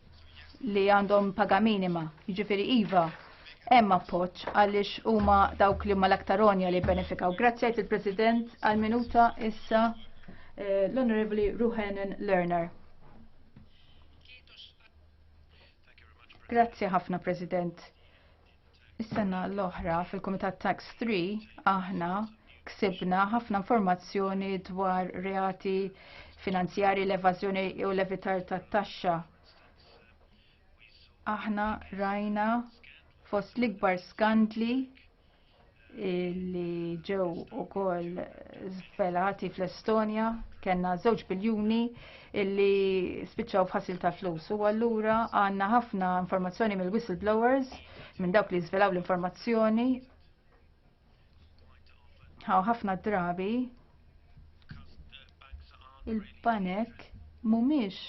li għandhom paga minima, jiġifieri iva, hemm appoġġ għaliex huma dawk li huma l-aktar onja li benefikaw. Grazzi għajt il-President għal minuta issa eh, l-Onorevoli Ruhenen Lerner. Grazzi ħafna President. Is-sena l-oħra fil-Kumitat Tax 3 aħna ksibna ħafna informazzjoni dwar reati finanzjari l-evażjoni u l-evitar tat-taxxa. Aħna rajna fost l-ikbar skandli li ġew ukoll żvelati fl-Estonja kellna żewġ biljuni illi spiċċaw f'ħasil ta' flus u allura għandna ħafna informazzjoni mill-whistleblowers minn dawk li żvelaw l-informazzjoni ħaw ħafna drabi il-banek mhumiex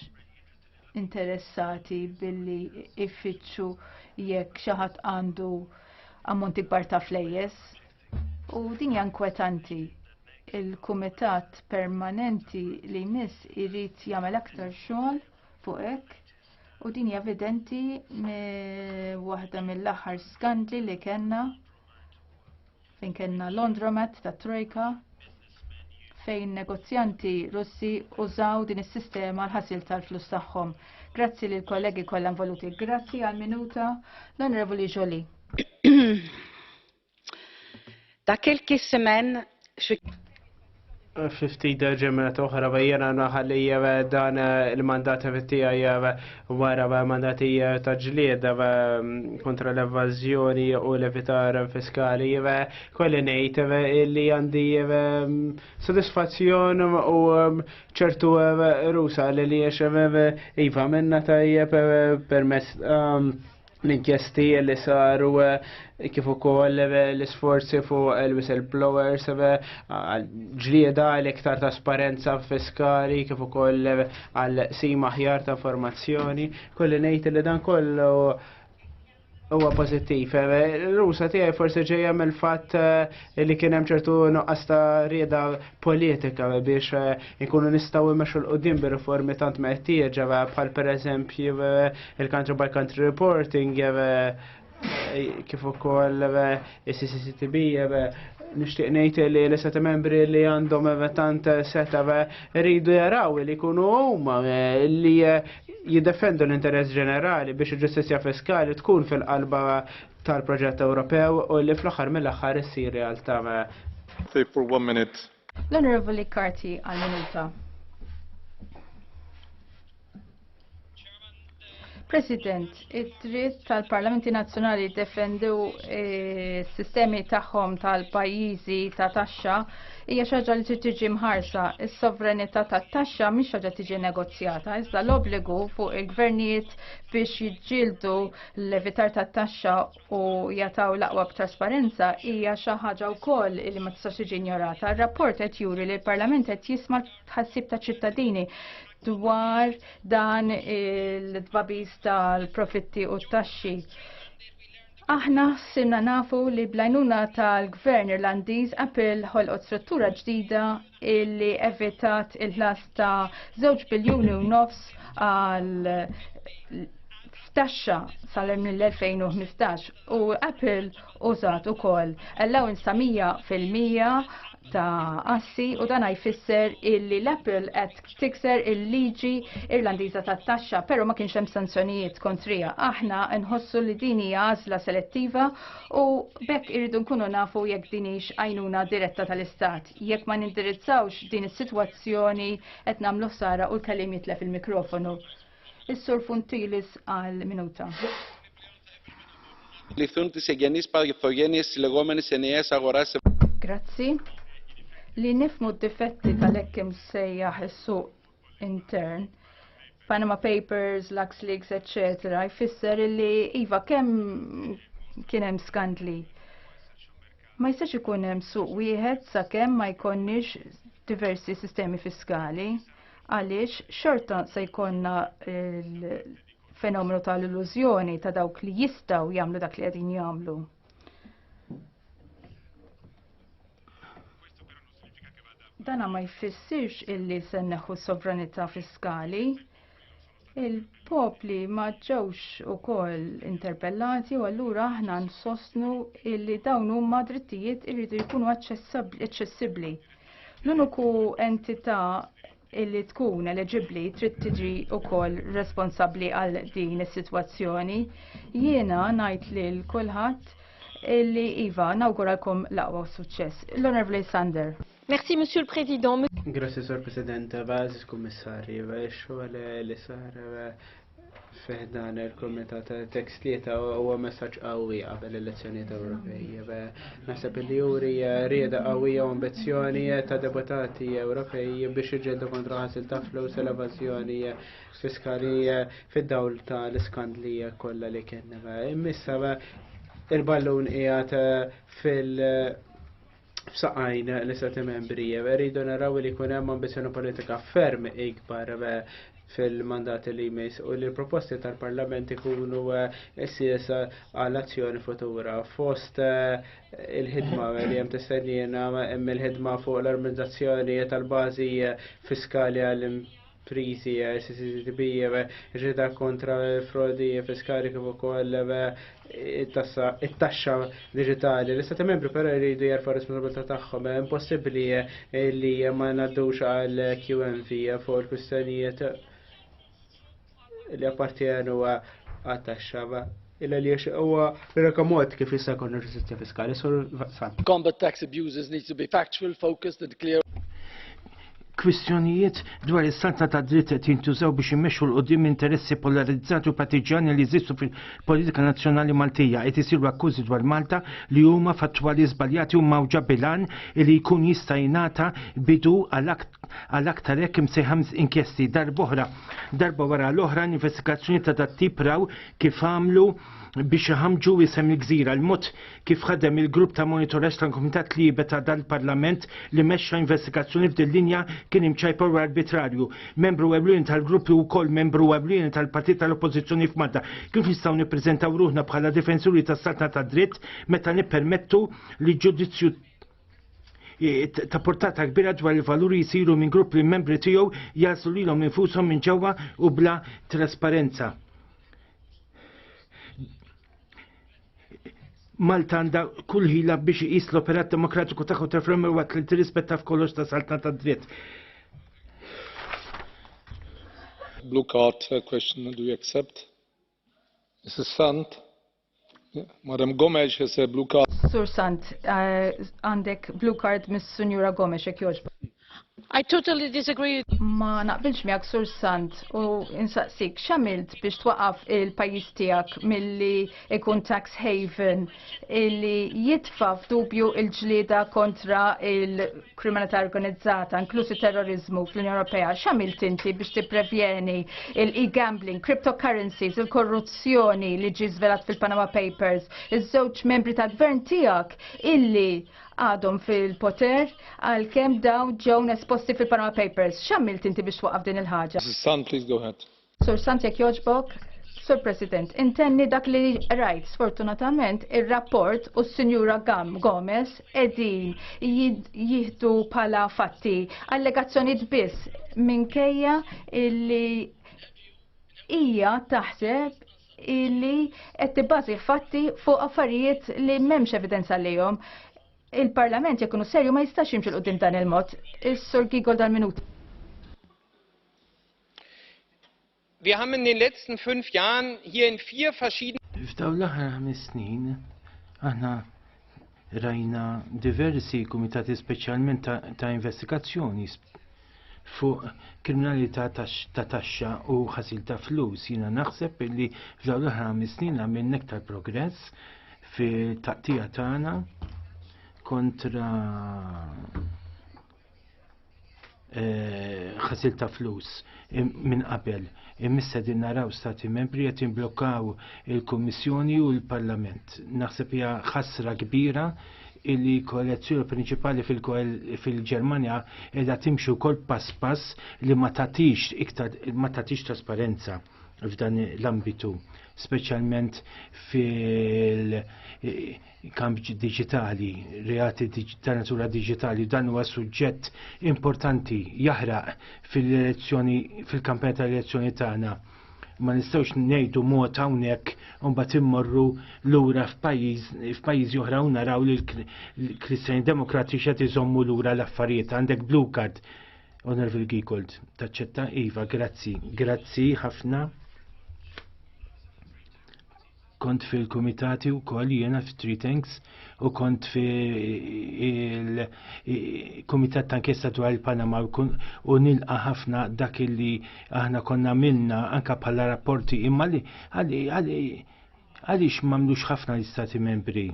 interessati billi ifittxu jekk xi ħadd għandu ammonti kbar ta' flejjes u din hija inkwetanti. Il-Kumitat Permanenti li jmiss irid jagħmel aktar xogħol fuq hekk u din hija evidenti waħda mill-aħħar skandli li kellna Fejn kellna Londromat ta' Trojka fejn negozjanti Russi użaw din is-sistema l-ħasil tal-flus tagħhom. Grazzi lil kollegi kollha involuti. Grazzi għal minuta l-Onorevoli Jolie. Dak il-kissemen 50 ġemet oħra bejjena naħalli eh, dan eh, il-mandat tiegħi eh, wara mandati ta' ġlied mm, kontra l-evażjoni u l-evitar fiskali kolli ngħid li għandi mm, sodisfazzjon u mm, ċertu rusa li li iva minna tajjeb permess l-inkjesti li saru eh, kif ukoll eh, l-isforzi fuq il-whistleblowers eh, ġlieda l-iktar trasparenza fiskali kif ukoll għal sima ħjar ta' informazzjoni. Kolli ngħid li dan kollu huwa pożittiv. Rusa tiegħi forsi ġejja mill-fatt li kien hemm ċertu nuqqas ta' rieda politika biex eh, ikunu nistgħu immexxu l-qudiem bir-riformi tant meħtieġa eh, bħal pereżempju eh, il-country by country reporting kif ukoll is-CCCTB nixtieq ngħid li l-istati membri li għandhom tant seta' rridu jaraw li jkunu huma li jiddefendu l-interess ġenerali biex il-ġustizja fiskali tkun fil-qalba tal-proġett Ewropew u li fl-aħħar mill-aħħar issir realtà. L-Onorevoli Karti għal-minuta. President, id-dritt tal-Parlamenti Nazzjonali jiddefendu eh, s-sistemi tagħhom tal-pajjiżi ta' taxxa hija xi ħaġa li trid tiġi mħarsa. Is-sovranità tat-taxxa mhix ħaġa tiġi negozjata, iżda l-obbligu fuq il-gvernijiet biex jiġġieldu l-evitar ta' taxxa u jataw l-aqwa b'trasparenza hija xi ħaġa wkoll li ma tistax tiġi ignorata. Ir-rapport qed juri li l-Parlament qed jisma' tħassib ta' ċittadini dwar dan il-tbabis tal-profitti u t-taxxi. Aħna sinna nafu li blajnuna tal-gvern irlandiż Apple ħolqot struttura ġdida illi evitat il-ħlas ta' 2 biljuni u nofs għal f'taxxa sal-2015 u Apple użat ukoll allowance ta' 100% ta' assi u dan jfisser illi l-Apple qed tikser il-liġi Irlandiża tat-taxxa, però ma kienx hemm sanzjonijiet kontrija. Aħna nħossu li din hija għażla selettiva u bekk irridu nkunu nafu jekk din hix għajnuna diretta tal-istat. jekk ma nindirizzawx din is-sitwazzjoni qed nagħmlu ħsara u l-kelim jitlef il-mikrofonu. Is-Sur Funtilis għal minuta. Li thunt se gennis par jittorjenis li romani se nejes agoras. Grazzi. Li nifmu d-difetti tal-ekkim sejjaħ is-suq intern Panama Papers, LuxLeaks, etc. jfisser li iva kemm kien hemm skandli. Ma jistax ikun hemm suq wieħed sakemm ma jkonniex diversi sistemi fiskali għaliex xorta se jkollna fenomenu tal-illużjoni ta' dawk li jistaw jagħmlu dak li qegħdin jagħmlu. Dana ma jfissirx illi se neħu sovranità fiskali. Il-popli ma ġewx ukoll interpellati u allura aħna nsostnu illi dawn huma drittijiet irridu jkunu aċċessibbli. L-uniku entità illi tkun eleġibbli trid tiġi wkoll responsabbli għal din is-sitwazzjoni. Jiena ngħid lil kulħadd illi iva nawguralkom l-aqwa suċċess. L-Onorevoli Sander. Merci, Monsieur le Président. Grazie, Sir President, Bażis Kummissarju, xogħol li sar Fiħdan il-Komitat Text li ta' huwa messaġġ qawwi qabel l-elezzjonijiet Ewropej. Naħseb li juri eh, rieda qawwija u ambizzjoni eh, ta' deputati Ewropej biex iġġeldu kontra ħasil ta' flus l evażjoni eh, fiskali fid-dawl ta' l-iskandli kollha li kien. Immissa il-ballun qiegħed fil- f'saqajn l-istati membri. Rridu naraw li jkun hemm ambizzjoni politika ferm ikbar fil-mandati li jmiss u li l-proposti tal-Parlament ikunu eh, s-sies għal-azzjoni futura. Fost eh, il-ħidma li jem tistennina jem il-ħidma fuq l-armonizzazzjoni tal-bazi fiskali għal prizi eh, CCTB eh, ġeda kontra l-frodi eh, fiskali kif ukoll it-taxxa digitali. L-istati membri però jridu jarfa responsabilità tagħhom impossibbli li ma ngħaddux għal QMV fuq il-kwistjonijiet li appartjenu għat-taxxa Illa li jiex huwa l-reka mod kif jista' jkun ġustizzja fiskali, sur San. Combat tax abuses needs to be factual, focused and clear. Kwistjonijiet dwar is-saltna ta' dritt qed jintużaw biex imexxu l qudiem interessi polarizzati u partiġġani li jżistu fil-politika nazzjonali Maltija. Qed isiru akkużi dwar Malta li huma fattwali żbaljati u mgħawġa bil-għan li jkun jista' jingħata bidu għal aktar hekk imsejħa inkjesti. Darb'oħra, darba wara l-oħra, investigazzjonijiet ta' dat-tip raw kif għamlu biex iħamġu isem il-gżira l-mod kif ħadem il-grupp ta' monitoraġġ tal-Kumitat Libe ta' dal-Parlament li mexxa investigazzjoni f'din linja kien imċajpa u arbitrarju. Membru ewlieni tal-grupp li wkoll membru ewlieni tal-partit tal-Oppożizzjoni f'Malta. Kif nistgħu nippreżentaw ruħna bħala difensuri tas-saltna tad-dritt meta nippermettu li ġudizzju E, ta' portata kbira dwar il-valuri jisiru minn grupp li membri tiegħu jaslu lilhom infushom minn ġewwa u bla trasparenza. Malta għandha kull ħila biex iqis l-operat demokratiku tagħha ta' frem waqt li tirrispetta f'kollox ta' saltna ta' dritt. Blue card uh, question, do you accept? Mrs. Sant? Madam Gomes has a blue card. Sur Sant, eh, għandek blue card mis Sunjura Gomes jekk jogħġbu. I totally disagree. Ma naqbilx miegħek sur sant u insaqsik x'għamilt biex twaqaf il-pajjiż tiegħek milli ikun tax haven illi jitfa' f'dubju il-ġlieda kontra il kriminalità organizzata, inklusi terrorizmu fl-Unjoni Ewropea, xamil tinti biex tipprevjeni il-e-gambling, cryptocurrencies, il-korruzzjoni li ġi zvelat fil-Panama Papers, iż-żewġ membri tal-gvern tiegħek illi għadhom fil-poter għal kem daw ġew esposti fil-Panama Papers. Xamil tinti biex waqaf din il-ħaġa? Mrs. Sun, please go ahead. Sur Sant jekk jogħġbok, Sur President, intenni dak li rajt sfortunatament ir-rapport u s-Sinjura Gam Gomez edin jihdu pala fatti allegazzjonijiet biss minkejja illi hija taħseb illi qed tibbażi fatti fuq affarijiet li m'hemmx evidenza lihom. Il-Parlament jekk serju ma jistax jimxi l dan il-mod. Is-Sur Gigol dal-minut. Wir haben in den letzten fünf Jahren hier in vier verschiedenen F'dawn l-aħħar ħames snin aħna rajna diversi kumitati speċjalment ta' investigazzjoni fuq kriminalità ta' taxxa u ħasil ta' flus. Jiena naħseb li f'dawn l-aħħar ħames snin għamilna iktar progress fit-taqtija tagħna kontra eh, ħasil ta' flus minn qabel. Imissa din naraw stati membri qed imblokkaw il-Kummissjoni u l-Parlament. Naħseb hija ħasra kbira illi kollezzjoni prinċipali fil-Ġermanja edha timxu kol pass pass li ma tatix iktar ma tatix trasparenza f'dan l-ambitu, speċjalment fil- kambi digitali, reati ta' natura digitali, dan huwa suġġett importanti jaħraq fil-elezzjoni, fil-kampanja tal-elezzjoni tagħna. Ma nistgħux ngħidu mod hawnhekk u mbagħad immorru lura f'pajjiżi oħra u naraw li l-Kristjani Demokratiċi qed iżommu lura l-affarijiet. Għandek blue card, Onorevoli Gikold, taċċetta? Iva, grazzi, grazzi ħafna. kont fil-kumitati u koll jena f-Three Tanks u kont fil-kumitat ta' kessa dwar il-Panama u nilqa ħafna dak li aħna konna milna anka bħala rapporti imma li għalix mamlux ħafna l-istati membri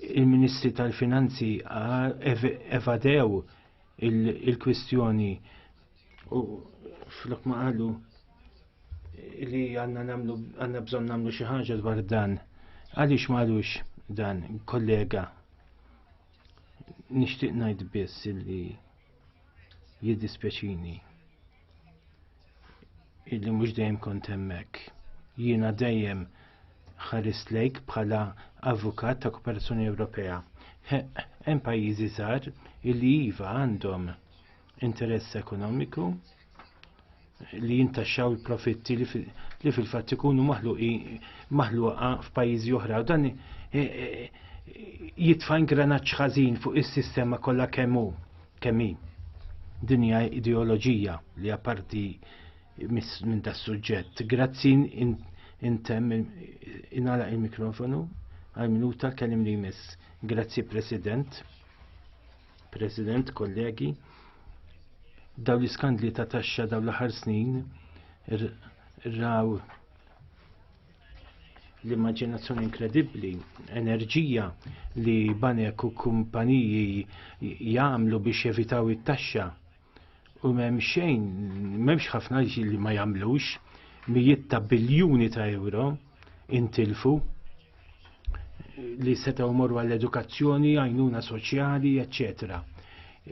il-Ministri tal-Finanzi evadew il-kwistjoni U flok ma qalu li għanna namlu għanna bżon namlu xi ħaġa dwar dan. Għaliex ma għalux dan, kollega? Nixtieq ngħid biss li jiddispjaċini illi mhux dejjem kont hemmhekk. Jiena dejjem ħares lejk bħala avukat ta' Kooperazzjoni Ewropea. Hemm pajjiżi żgħar illi iva għandhom interess ekonomiku li jintaxxaw il-profitti li fil-fatt ikunu maħluqa f'pajjiżi oħra u dan e, e, jitfa' ingranaġġ ħażin fuq is-sistema kollha kemm hu kemm hi. Din hija ideoloġija li apparti minn das suġġett. Grazzi intemm inala il-mikrofonu għal minuta kellim li jmiss. Grazzi President. President, kollegi, daw l-iskandli ta' taxxa daw l-aħħar snin raw l-immaġinazzjoni inkredibbli, enerġija li banek u kumpaniji jagħmlu biex jevitaw it-taxxa u m'hemm xejn, m'hemmx ħafna li ma jagħmlux mijiet ta' biljuni ta' euro intilfu li setgħu morru għall-edukazzjoni, għajnuna soċjali, eċċetera.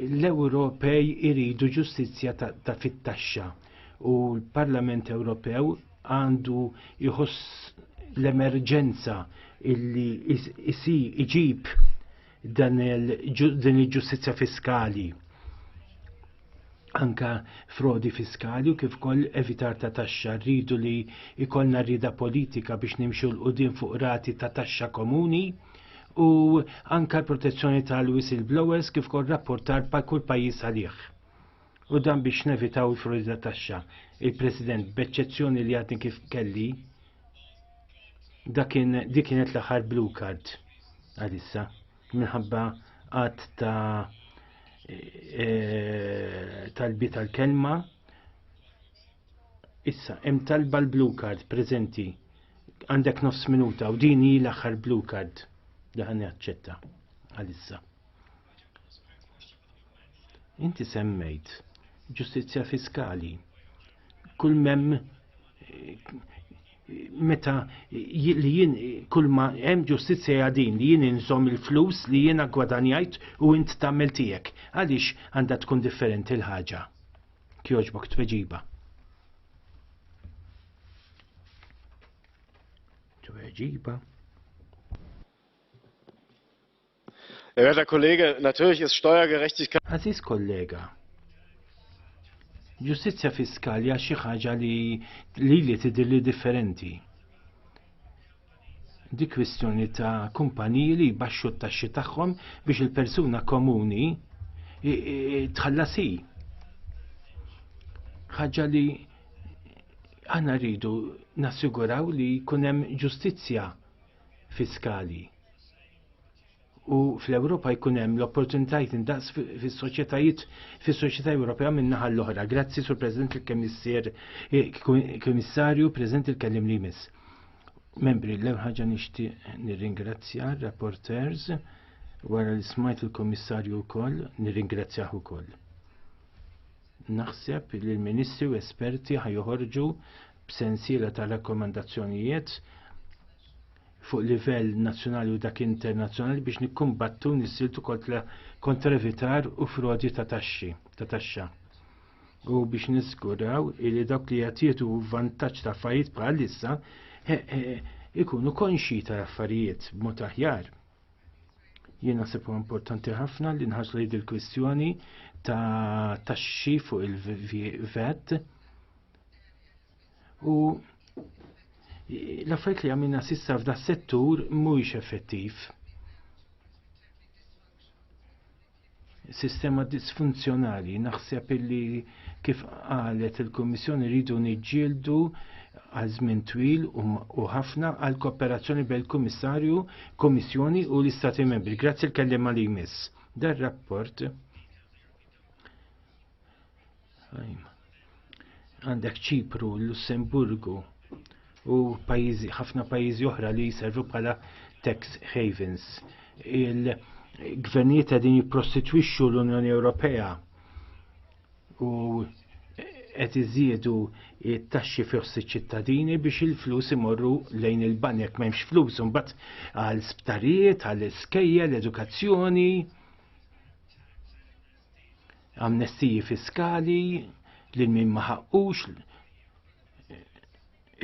L-Ewropej iridu ġustizzja ta' fit-taxxa u l-Parlament Ewropew għandu jħoss l-emerġenza illi isi iġib dan din il-ġustizzja fiskali anka frodi fiskali u kif koll evitar ta' taxxa rridu li ikollna rida politika biex nimxu l-qudin fuq rati ta' taxxa komuni u anka l-protezzjoni tal-whistleblowers kif koll rapportar pa' kull pajjiż għalih. U dan biex nevitaw il-frodi ta' taxxa. Il-President, b'eċċezzjoni li għadni kif kelli, Dakin dik kienet l-aħħar blue card għalissa minħabba għad ta' e, talbi tal-kelma. Issa, hemm talba l-blue card preżenti għandek nofs minuta u din hi l-aħħar blue card li ħan jaċċetta għalissa. Inti semmejt ġustizzja fiskali. Kull mem meta li jien kull ma hemm ġustizzja din li jien inżomm il-flus li jiena gwadanjajt u int tagħmel tiegħek. Għaliex għandha tkun differenti l-ħaġa? Kjoġbok tweġiba. Tweġiba. Werter Kollege, natürlich ist Steuergerechtigkeit. Aziz kollega, ġustizzja fiskali għax xi ħaġa li li li tidhir li differenti. Di kwistjoni ta' kumpaniji li jbaxxu t-taxxi tagħhom biex il-persuna komuni tħallasi. Ħaġa li għana rridu nassiguraw li kunem ġustizzja fiskali u fl-Ewropa jkun hemm l-opportunitajiet indaqs fis-soċjetajiet fis-soċjetà Ewropea min-naħa l-oħra. Grazzi sur President il-Kemissir Kummissarju preżent il-kellim li jmiss. Membri, l ħaġa nixtieq nirringrazzja rapporters wara li smajt il-Kummissarju wkoll nirringrazzjah ukoll. Naħseb li l-Ministri u esperti ħajoħorġu b'sensiela ta' rakkomandazzjonijiet fuq livell nazzjonali u dak internazzjonali biex nikkumbattu nissiltu kontra evitar u frodi ta' taxxi ta' taxxa. U biex niżguraw li dawk li qed jieħdu vantaġġ ta' affarijiet bħal issa ikunu konxji tal-affarijiet b'mod aħjar. Jien naħseb huwa importanti ħafna li nħarsu li il-kwistjoni ta' taxxi fuq il-VAT U l-affarijiet li għamilna sissa f'da settur mhuwiex effettiv. Sistema disfunzjonali, naħseb illi kif qalet il-Kummissjoni rridu niġġieldu għal żmien twil u ħafna għal kooperazzjoni bejn il-Kummissarju, Kummissjoni u l-Istati Membri. Grazzi l-kelliem li jmiss. Dar rapport Għandek Ċipru, Lussemburgu u pajizi, ħafna pajjiżi oħra li jservu bħala tax havens. Il-gvernijiet qegħdin jipprostitwixxu l-Unjoni Ewropea u qed iżiedu it-taxxi fost iċ-ċittadini biex il-flus imorru lejn il-banek m'hemmx flus imbagħad għal sptarijiet, għal iskejjel, edukazzjoni. amnestiji fiskali lil min ma ħaqqux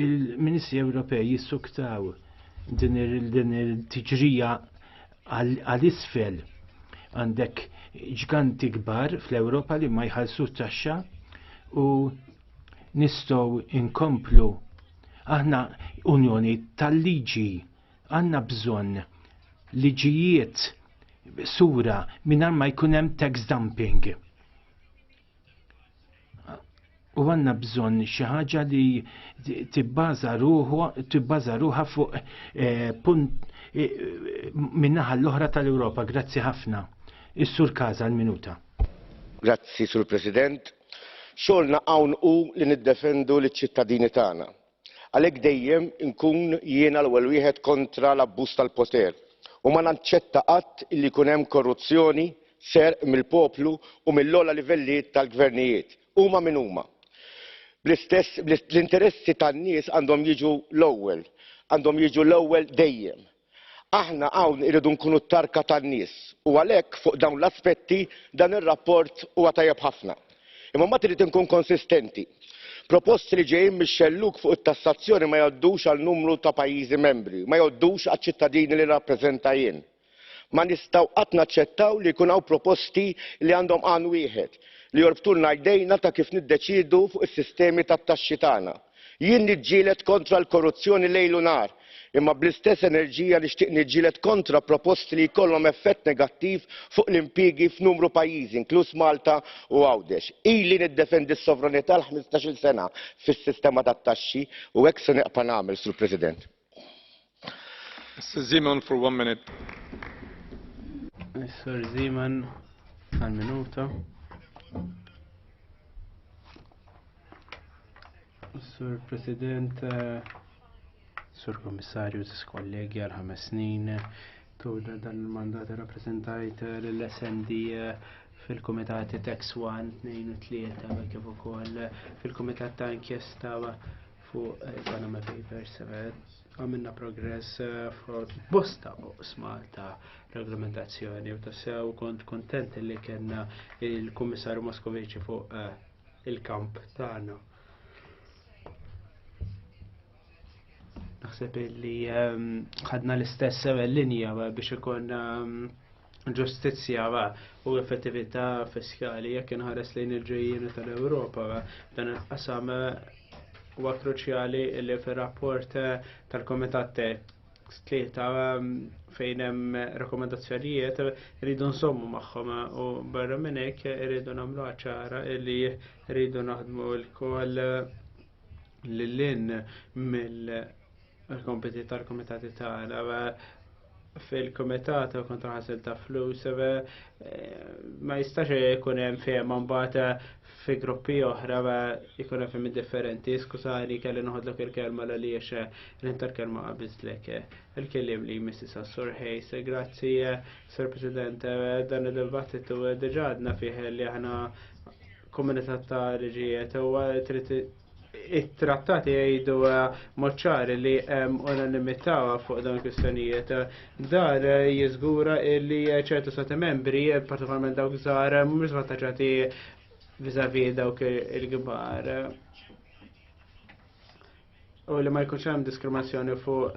il-Ministri Ewropej jissuktaw din il-tiġrija għal-isfel għandek ġganti kbar fl-Ewropa li ma jħallsu taxxa u nistgħu inkomplu aħna unjoni tal-liġi Għanna bżonn liġijiet sura mingħajr ma jkun hemm tax dumping. U għanna bżonn xi ħaġa li tibbaża ruħha fuq eh, punt eh, minnaħa l-oħra tal-Ewropa. Grazzi ħafna. Is-sur Kaza l-minuta. Grazzi, Sur President. Xogħolna hawn hu li niddefendu liċ-ċittadini tagħna Għalhekk dejjem inkun jiena l-ewwel wieħed kontra l-abbuż tal-poter u ma naċċetta qatt illi jkun hemm korruzzjoni, serq mill-poplu u mill-ogħla livelli tal-gvernijiet, huma min huma. Bl-istess, l-interessi tan-nies għandhom jiġu l-ewwel, għandhom jiġu l-ewwel dejjem. Aħna hawn irridu nkunu t-tarka tan-nies u għalhekk fuq dawn l-aspetti dan ir-rapport huwa tajjeb ħafna. Imma mbagħad irrid inkun konsistenti. Proposti li ġejjin mix-xellug fuq it-tassazzjoni ma jgħoddux għal numru ta' pajjiżi membri, ma jgħoddux għaċ-ċittadini li nirrappreżenta jien. Ma nistgħu qatt naċċettaw li jkun hawn proposti li għandhom għan wieħed, li jorbtulna jdejna ta' kif niddeċiedu fuq is-sistemi tat-taxxi tagħna. Jien niġġieled kontra l-korruzzjoni lejl u nhar, imma bl-istess enerġija nixtieq niġġieled kontra proposti li jkollhom effett negattiv fuq l-impjiegi f'numru pajjiżi, inkluż Malta u Għawdex. Ili niddefendi s-sovranità għal ħmistax-il sena fis-sistema tat-taxxi u hekk se nibqa' nagħmel, Sur President. Mr. Zeman for one minute. Mr. Zeman, għal minuta. Sur President, Sur Komissarju, Sis kollegi għal ħames snin, tuda dan il-mandat rappresentajt l-SND fil-Komitati Tax 1, 2 u 3, kif ukoll fil-Komitat ta' Inkjesta fuq eh, Panama Papers eh, għamilna progress eh, fuq bosta oqsma ta' reglamentazzjoni u ta' sew kont kontent li kena il-Kummissarju Moskoviċi fuq il-kamp tagħna. Naħseb li ehm, ħadna l-istess linja biex ikun ehm, ġustizzja u effettività fiskali jekk inħares lejn il-ġejjieni tal-Ewropa dan il-qasam huwa kruċjali li fir-rapport tal-Komitat tlieta um, fejn hemm rakkomandazzjonijiet rridu nsommu magħhom u barra minn hekk irridu nagħmlu ċara li rridu naħdmu lkoll lil mill il-kompiti tal-komitati tagħna fil-komitat kontra ħasil ta' flus eh, ma jistax ikun hemm fejn mbagħad eh, fi gruppi oħra eh, ikun hemm fejn differenti. Skużani kelli noħodlok il-kelma l għaliex l-inter kelma qabiżlek. Il-kellim li Mrs. Sassur Hayes, grazzi Sir President, dan id-dibattitu diġadna fih li aħna komunità ta' liġijiet u trid it-trattati jgħidu eh, moċċar li hemm unanimità fuq dawn kwistjonijiet. Dar eh, jiżgura li eh, ċertu stati membri, partikolarment dawk żgħar, mhumiex vantaġġati viżavi dawk il-kbar. U li ma jkunx hemm diskriminazzjoni fuq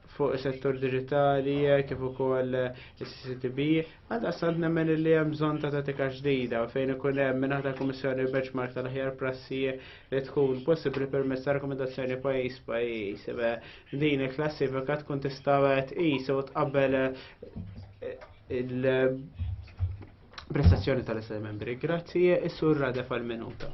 fuq settur digitali kif ukoll is-CCTB, għal sant nemmen li hemm bżonn ta' tatika ġdida fejn ikun hemm minn aħdar kummissjoni benchmark tal-aħjar prassi li tkun possibbli permezz ta' rakkomandazzjoni pajjiż pajjiż. Din il-klassifika tkun tista' tqis u tqabbel eh, il prestazzjoni tal-Istati Membri. Grazzi, is-sur Radef għal-minuta.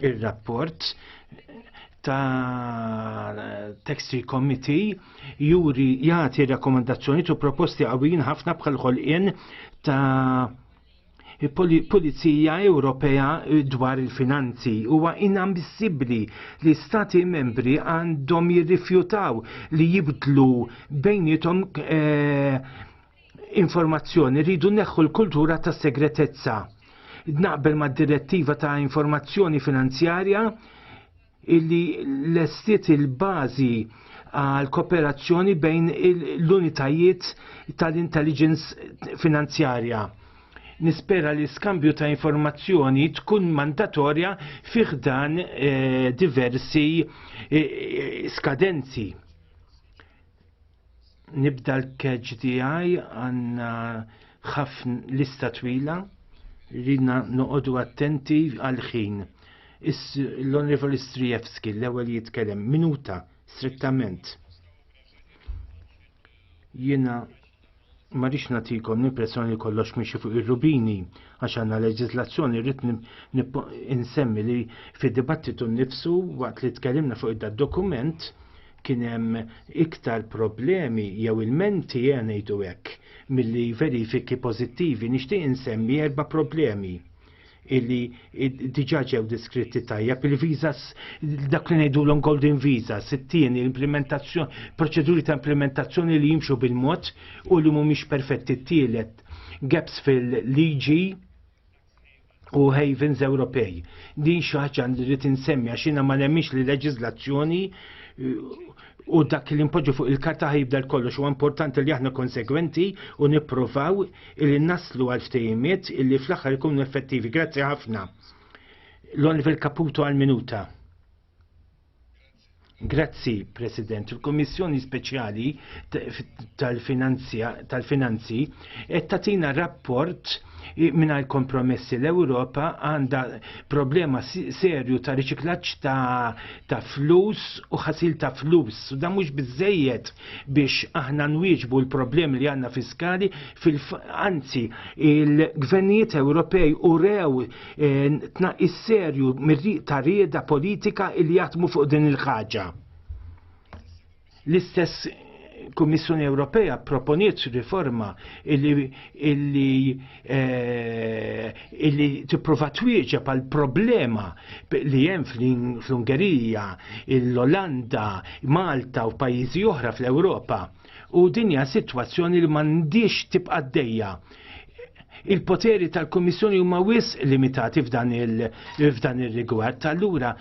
Ir-rapport ta' Textile Committee juri jagħti rakkomandazzjoni tu proposti għawin ħafna bħal ħolqien ta' Pulizija Ewropea dwar il-finanzi huwa inammissibbli li stati membri għandhom jirrifjutaw li jibdlu bejnietom eh, informazzjoni rridu neħħu l-kultura ta' segretezza. Naqbel mad direttiva ta' informazzjoni finanzjarja illi lestiet il-bażi għal kooperazzjoni bejn l-unitajiet tal-intelligence finanzjarja. Nispera li skambju ta' informazzjoni tkun mandatorja fiħdan eh, diversi eh, skadenzi Nibda l-keġ tiegħi għandna ħafna lista twila rridna noqogħdu attenti għal ħin. L-Onorevoli Strijewski l-ewwel jitkellem minuta strettament. Jiena ma rix natikom l-impressjoni li kollox miexi fuq ir-rubini għax għandna leġislazzjoni rrid insemmi li fid-dibattitu nnifsu waqt li tkellimna fuq id dokument kien hemm iktar problemi jew ilmenti ejja ngħidu hekk milli verifiki pożittivi. Nixtieq insemmi erba' problemi illi diġa ġew diskritti tajjeb il-visas dak li ngħidulhom golden visas, it-tieni l-implementazzjoni, proċeduri ta' implementazzjoni li jimxu bil-mod u li mhumiex perfetti t-tielet gaps fil-liġi u havens Ewropej. Din xi ħaġa li rrid insemmi għax jiena ma nemmix li leġiżlazzjoni u dak li npoġġu fuq il-karta ħajibda kollox u importanti li aħna konsegwenti u nipprovaw illi naslu għal ftejmiet illi fl-aħħar ikunu effettivi. Grazzi ħafna. L-Oliver Caputo għal minuta. Grazzi, President. Il-Kommissjoni Speċjali tal-Finanzi tal qed tagħtina rapport mingħajr kompromessi l-Ewropa għandha problema serju ta' riċiklaġġ ta', ta flus u ħasil ta' flus. U dan mhux biżejjed biex aħna nwieġbu l-problemi li għanna fiskali fil-anzi il-gvernijiet Ewropej u rew eh, tnaqis serju ta' rieda politika li jatmu fuq din il-ħaġa. L-istess Kummissjoni Ewropea proponiet riforma illi, illi Eh, illi tipprova twieġeb għal problema li hemm fl-Ungerija, l-Olanda, Malta u pajjiżi oħra fl-Ewropa. U din hija sitwazzjoni li m'għandix tibqa' għaddejja il-poteri tal-Komissjoni huma wis limitati f'dan il-rigward. Allura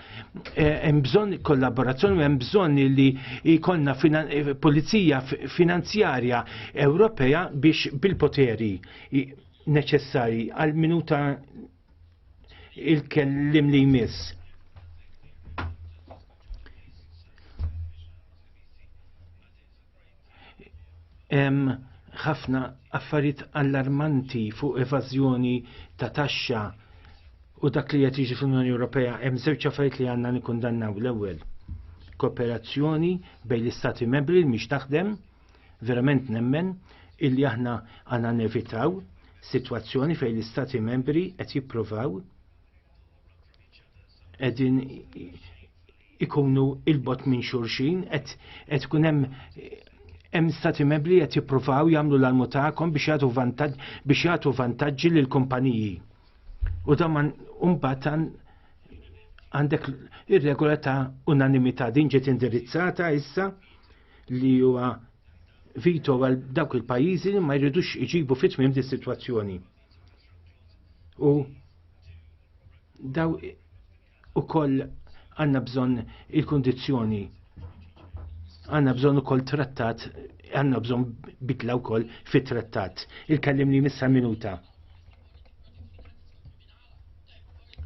Eh, hemm bżonn kollaborazzjoni, hemm bżonn li jkollna eh, pulizija finanzjarja Ewropea biex bil-poteri neċessari għal minuta il-kellim li jmiss. Hemm ħafna affarijiet allarmanti fuq evażjoni ta' taxxa u dak li qed jiġi fl-Unjoni Ewropea hemm żewġ affarijiet li għandna nikkundannaw l-ewwel. Kooperazzjoni bejn l-istati membri li mhix taħdem, verament nemmen illi aħna għandna nevitaw sitwazzjoni fejn l-istati membri qed jippruvaw qegħdin ikunu il-bot minn xurxin, qed ikun hemm hemm stati membri qed jippruvaw jagħmlu l-almu tagħkom biex jagħtu vantaġġ biex jagħtu vantaġġi lil kumpaniji. U dan mbagħad għandek ir-regola ta' unanimità din ġiet indirizzata issa li huwa vito għal dawk il-pajjiżi li ma jridux iġibu fit-tmiem di situazzjoni. U daw ukoll għandna bżonn il-kundizzjoni għandna bżonn ukoll trattat għanna bżon bidla wkoll fit-trattat. Il-kellim li missa minuta.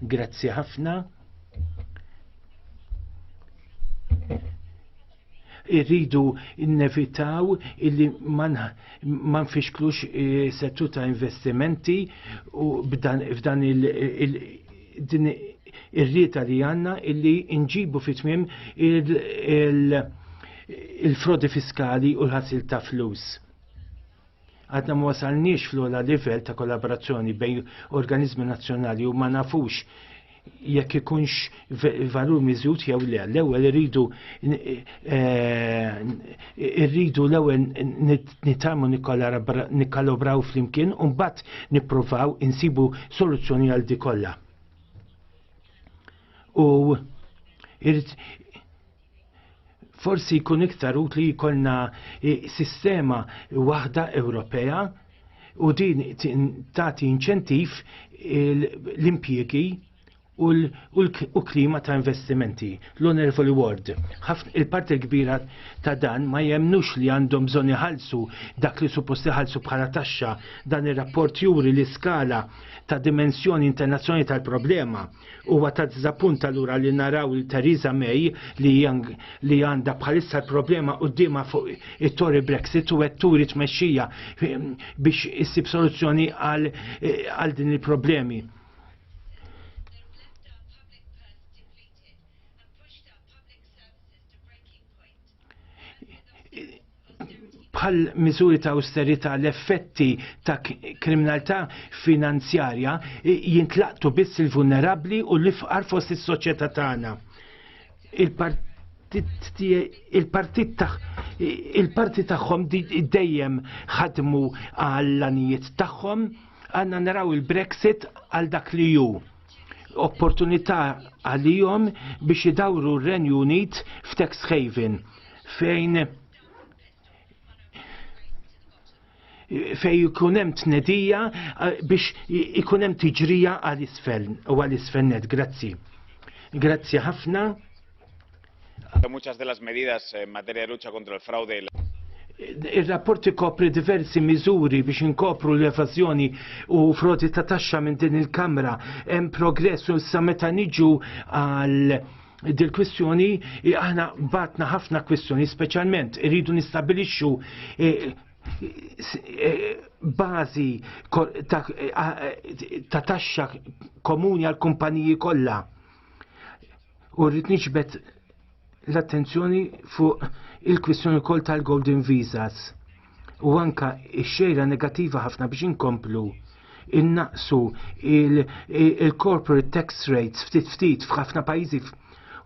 Grazzi ħafna. irridu innevitaw illi ma nfixklux eh, settu ta' investimenti u f'dan il-din ir-rieta li għanna illi nġibu fit-tmim il-frodi fiskali u l-ħasil ta' flus Għadna ma wasalniex fl-ogħla livell ta' kollaborazzjoni bejn organizmi nazzjonali u ma nafux jekk ikunx valur miżjud jew le. L-ewwel irridu eh, irridu l-ewwel nitalmu nikkalobraw flimkien u mbagħad nippruvaw insibu soluzzjoni għal di kollha. U Forsi jkun iktar utli jkollna eh, sistema waħda Ewropea u din tagħti inċentiv l-impjiegi u l-klima ta' investimenti. L-Honorable Ward, il-parti l-kbira ta' dan ma jemnux li għandhom bżonn iħallsu dak li suppost iħallsu bħala taxxa dan ir-rapport juri l-iskala ta' dimensjoni internazzjonali tal-problema Huwa ta' dizappunt allura li naraw il Theresa May li li għandha bħalissa l-problema qudiema fuq it-Tory Brexit u qed turi tmexxija ehm, biex issib soluzzjoni eh, għal din il-problemi. bħal miżuri ta' austerità l-effetti ta' kriminalità finanzjarja jintlaqtu biss il-vulnerabbli u l-ifqar fost is-soċjetà tagħna. Il-partit il-parti tagħhom dejjem ħadmu għall-anijiet tagħhom għandna naraw il-Brexit għal dak li hu opportunità għalihom biex idawru r-Renju Unit f'tax haven fejn fej ikun hemm tnedija eh, biex ikun hemm tiġrija għal isfel u għal isfel net. Grazzi. Grazzi ħafna. Muchas de las medidas en materia de lucha contra el fraude y la Ir-rapport ikopri diversi miżuri biex inkopru l-evażjoni u frodi ta' taxxa minn din il-Kamra. Hemm progress u issa meta niġu għal dil-kwistjoni aħna batna ħafna kwistjoni, speċjalment irridu nistabilixxu e, e, bażi ta' taxxa komuni għal kumpaniji kollha U rrid niġbed l-attenzjoni fuq il-kwistjoni wkoll tal-Golden Visas u anka x-xejra negattiva ħafna biex inkomplu innaqsu il-corporate tax rates ftit ftit f'ħafna pajjiżi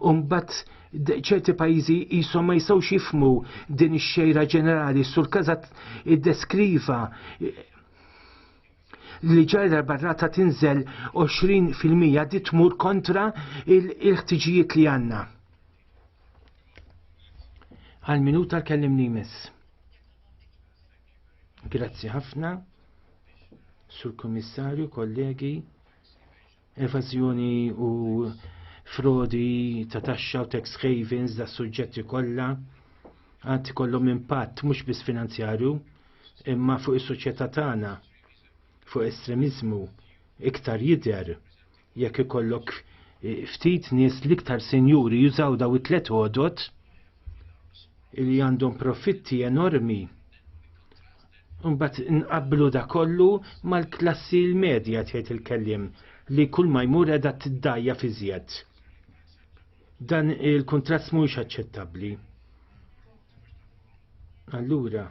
u mbagħad ċerti pajjiżi jisom ma jistgħux jifmu din ix-xejra ġenerali sur kazat iddeskriva li ġajra barrata tinżel 20% di tmur kontra il-ħtiġijiet li għanna. Għal minuta l-kellimni jmiss. Grazzi ħafna, sur komissarju, kollegi, Evażjoni u frodi ta' taxxa u tax havens da' suġġetti kollha għad kollhom impatt mhux biss finanzjarju imma fuq is-soċjetà tagħna fuq estremiżmu iktar jidher jekk ikollok eh, ftit nies l-iktar senjuri jużaw daw it-tlet għodot li għandhom profitti enormi Unbat nqablu da kollu mal-klassi l-medja tgħid il-kellim li kull ma jmur edha t-dajja fi zjed. Dan il-kontrast mhuwiex aċċettabbli. Allura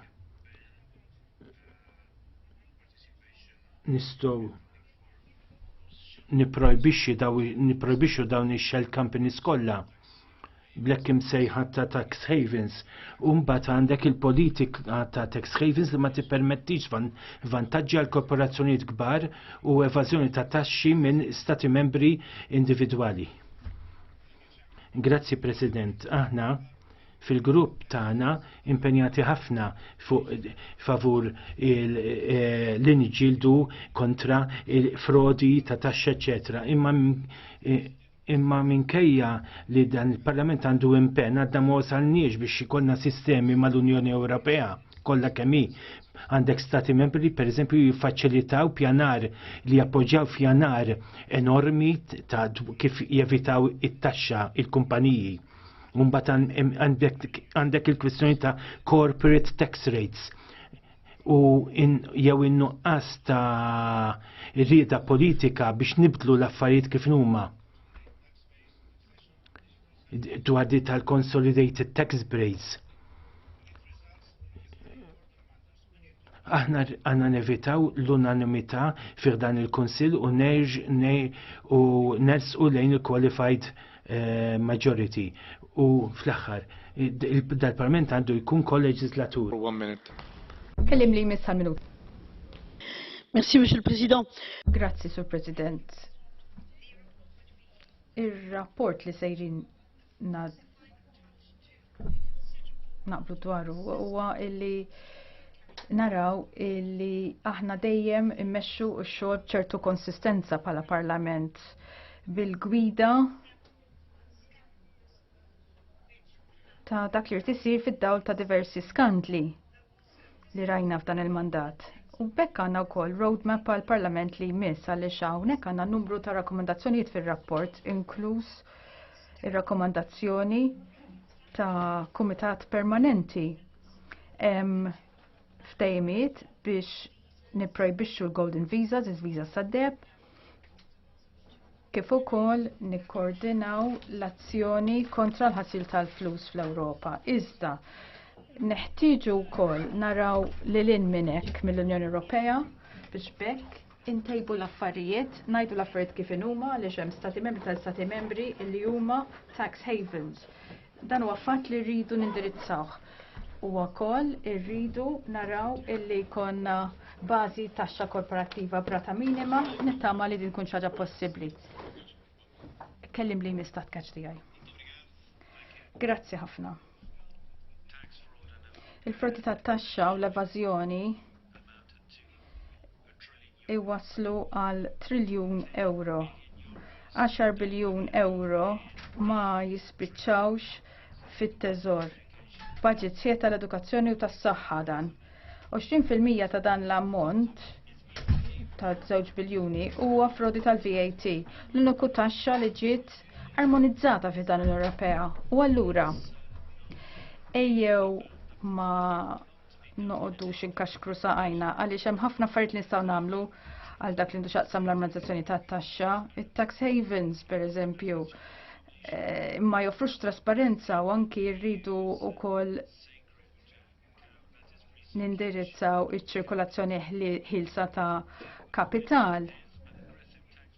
nistgħu niprojbixxi daw niprojbixxu dawn ix-shell companies kollha blekk imsejħa ta' tax havens. u mbagħad għandek il-politika ta' tax havens li ma tippermettix vantaġġi għal korporazzjonijiet kbar u evażjoni ta' taxxi minn stati membri individwali. Grazzi President, aħna fil-grupp tagħna impenjati ħafna fuq favur eh, l inġildu kontra il-frodi ta' taxxa eċetera. Imma eh, imma minkejja li dan il-Parlament għandu impenn għadna ma wasalniex biex ikollna sistemi mal-Unjoni Ewropea kollha kemm hi. Għandek stati membri li pereżempju jiffaċilitaw pjanar li jappoġġjaw pjanar enormi ta' kif jevitaw it-taxxa il-kumpaniji. Mbagħad għandek il-kwistjoni ta' corporate tax rates u in, jew in-nuqqas ta' rieda politika biex nibdlu l-affarijiet kif huma. dwar di tal-consolidated tax breaks. Aħna għanna nevitaw l-unanimità fir dan il-Kunsill u nerġ u nersqu lejn il-qualified eh, majority. U fl-aħħar, dal-Parlament għandu jkun kol-leġislatur. One minute. Kellim li jmiss għal-minut. Merci, Mr. President. Grazzi, Sur President Ir-rapport li sejrin naqblu dwaru huwa illi naraw illi aħna dejjem immexxu x-xogħol b'ċertu konsistenza bħala parlament bil-gwida ta' dak li rtisir fid-dawl ta' diversi skandli li rajna f'dan il-mandat. U bekk għandna wkoll roadmap għall parlament li jmiss għaliex hawnhekk għandna numru ta' rakkomandazzjonijiet fir-rapport, inkluż ir-rakkomandazzjoni ta' kumitat permanenti. Hemm ftejmiet biex nipprojbixxu l-golden visas, il-visas sad-deb, kif ukoll nikkoordinaw l-azzjoni kontra l-ħasil tal-flus fl-Ewropa. Iżda neħtieġu wkoll naraw lil hinn minn hekk mill-Unjoni Ewropea biex bekk intejbu l-affarijiet, ngħidu l-affarijiet kif inhuma għaliex hemm stati membri tal-stati membri li huma tax havens Dan huwa fatt li rridu nindirizzawh. U wkoll irridu naraw illi jkollna bażi taxxa korporattiva brata minima nittama li din tkun ħaġa possibbli. Kellim li jmistat kaċ tiegħi. Grazzi ħafna. Il-frodi tat taxxa u l-evażjoni iwasslu għal triljun euro. 10 biljun euro ma jispiċċawx fit-teżor. Budget sħiħ tal-edukazzjoni u tas-saħħa dan. 20% ta' dan l-ammont ta' 2 biljuni huwa frodi tal-VAT, l-uniku taxxa li ġiet armonizzata fi dan l-Ewropea. U allura ejjew ma noqoddu xinkaxkru saqajna għaliex hemm ħafna affarijiet li nistgħu nagħmlu għal dak li nduxaqsam l-armonizzazzjoni tat-taxxa, it-tax havens pereżempju eh, ma joffrux trasparenza u anki rridu wkoll nindirizzaw iċ-ċirkolazzjoni ħilsa ta' kapital.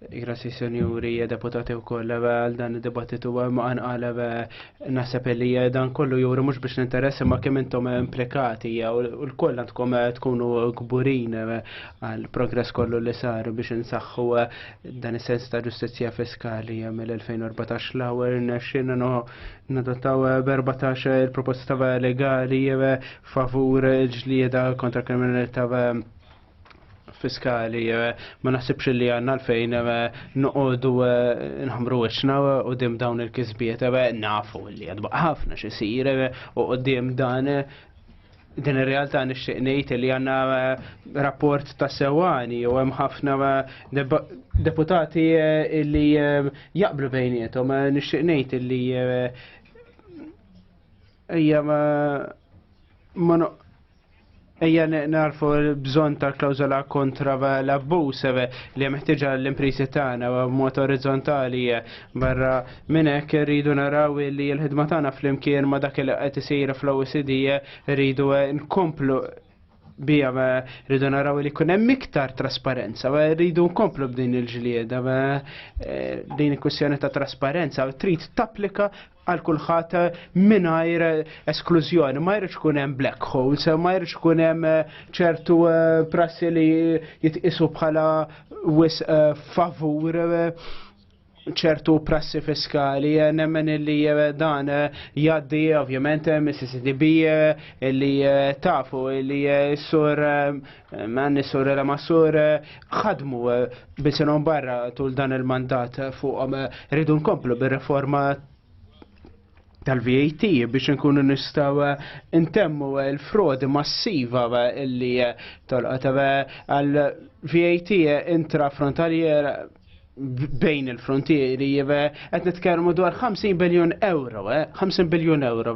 Grazie senjuri, deputati u koll, għal dan il-debattitu għem għan għalab nasab li dan kollu juri mux biex l-interess ma kemm intom implikati u l-koll għandkom tkunu gburin għal progress kollu li sar biex nsaxħu dan il-sens ta' ġustizja fiskali mill-2014 l-għawar nxin no nadottaw 14 il-proposta legali favur ġlieda kontra kriminalità fiskali eh, ma naħsibx li għanna l-fejn eh, noqogħdu eh, nħamru wiċċna u dim dawn il-kisbiet nafu li għadba ħafna xisir u dim dan din ir-realtà nixtieq ngħid li għandna rapport ta' sewani u hemm ħafna deputati li jaqblu bejnietom nixtieq ngħid li Ejja ma ma Ejja narfu l-bżon ta' klawzola kontra l-abbus eh, li meħtieġa l-imprisi tagħna b'mod orizzontali eh, barra minn hekk irridu naraw li l-ħidma tagħna flimkien ma' dak li qed isir fl-OECD eh, rridu nkomplu bija rridu naraw li kun hemm iktar trasparenza, rridu nkomplu b'din il-ġlieda, eh, din il-kwestjoni ta' trasparenza trid tapplika għal kulħadd mingħajr esklużjoni, ma jridx kun hemm black holes, ma jridx kun hemm eh, ċertu eh, prassi li jitqisu bħala wis favur ċertu prassi fiskali, eh, nemmen li eh, dan eh, jaddi ovvjament mis-CCDB li tafu li sur manni sur la masur ħadmu bisinhom barra tul dan il-mandat fuqhom rridu nkomplu bir-reforma tal-VAT biex nkunu nistaw eh, intemmu eh, l-frodi massiva eh, illi tolqot għal VAT intrafrontaljer bejn il-frontieri jive qed nitkellmu dwar 50 biljun euro, 50 biljun euro,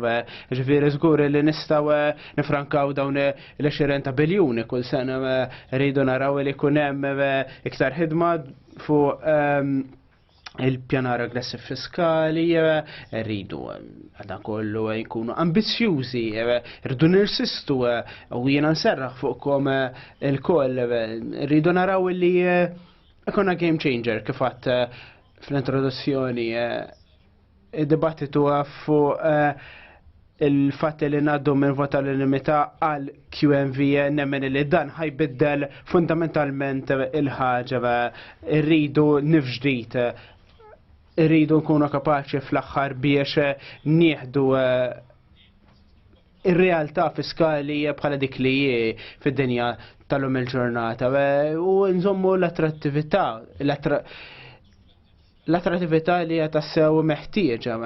ġifieri żgur li nistgħu nifrankaw dawn l-20 ta' biljuni kull sena rridu naraw li jkun hemm iktar ħidma fuq ehm, il-pjanar aggressiv fiskali, eh, rridu eh, għadna kollu eh, jkunu ambizjużi, rridu nirsistu u jiena nserraħ fuqkom il-koll, rridu naraw li ikona game changer kifat fl-introduzzjoni Id-dibattitu għaffu eh, il-fatt li naddu minn vota l-limita għal QMV nemmen li dan ħajbiddel fundamentalment il-ħagġa rridu nifġdijt rridu nkunu kapaċi fl-axħar biex nieħdu eh, ir-realtà fiskali bħala dik li fid-dinja tal-lum il-ġurnata eh, u nżommu l-attrattività L-attrattività li hija tassew meħtieġa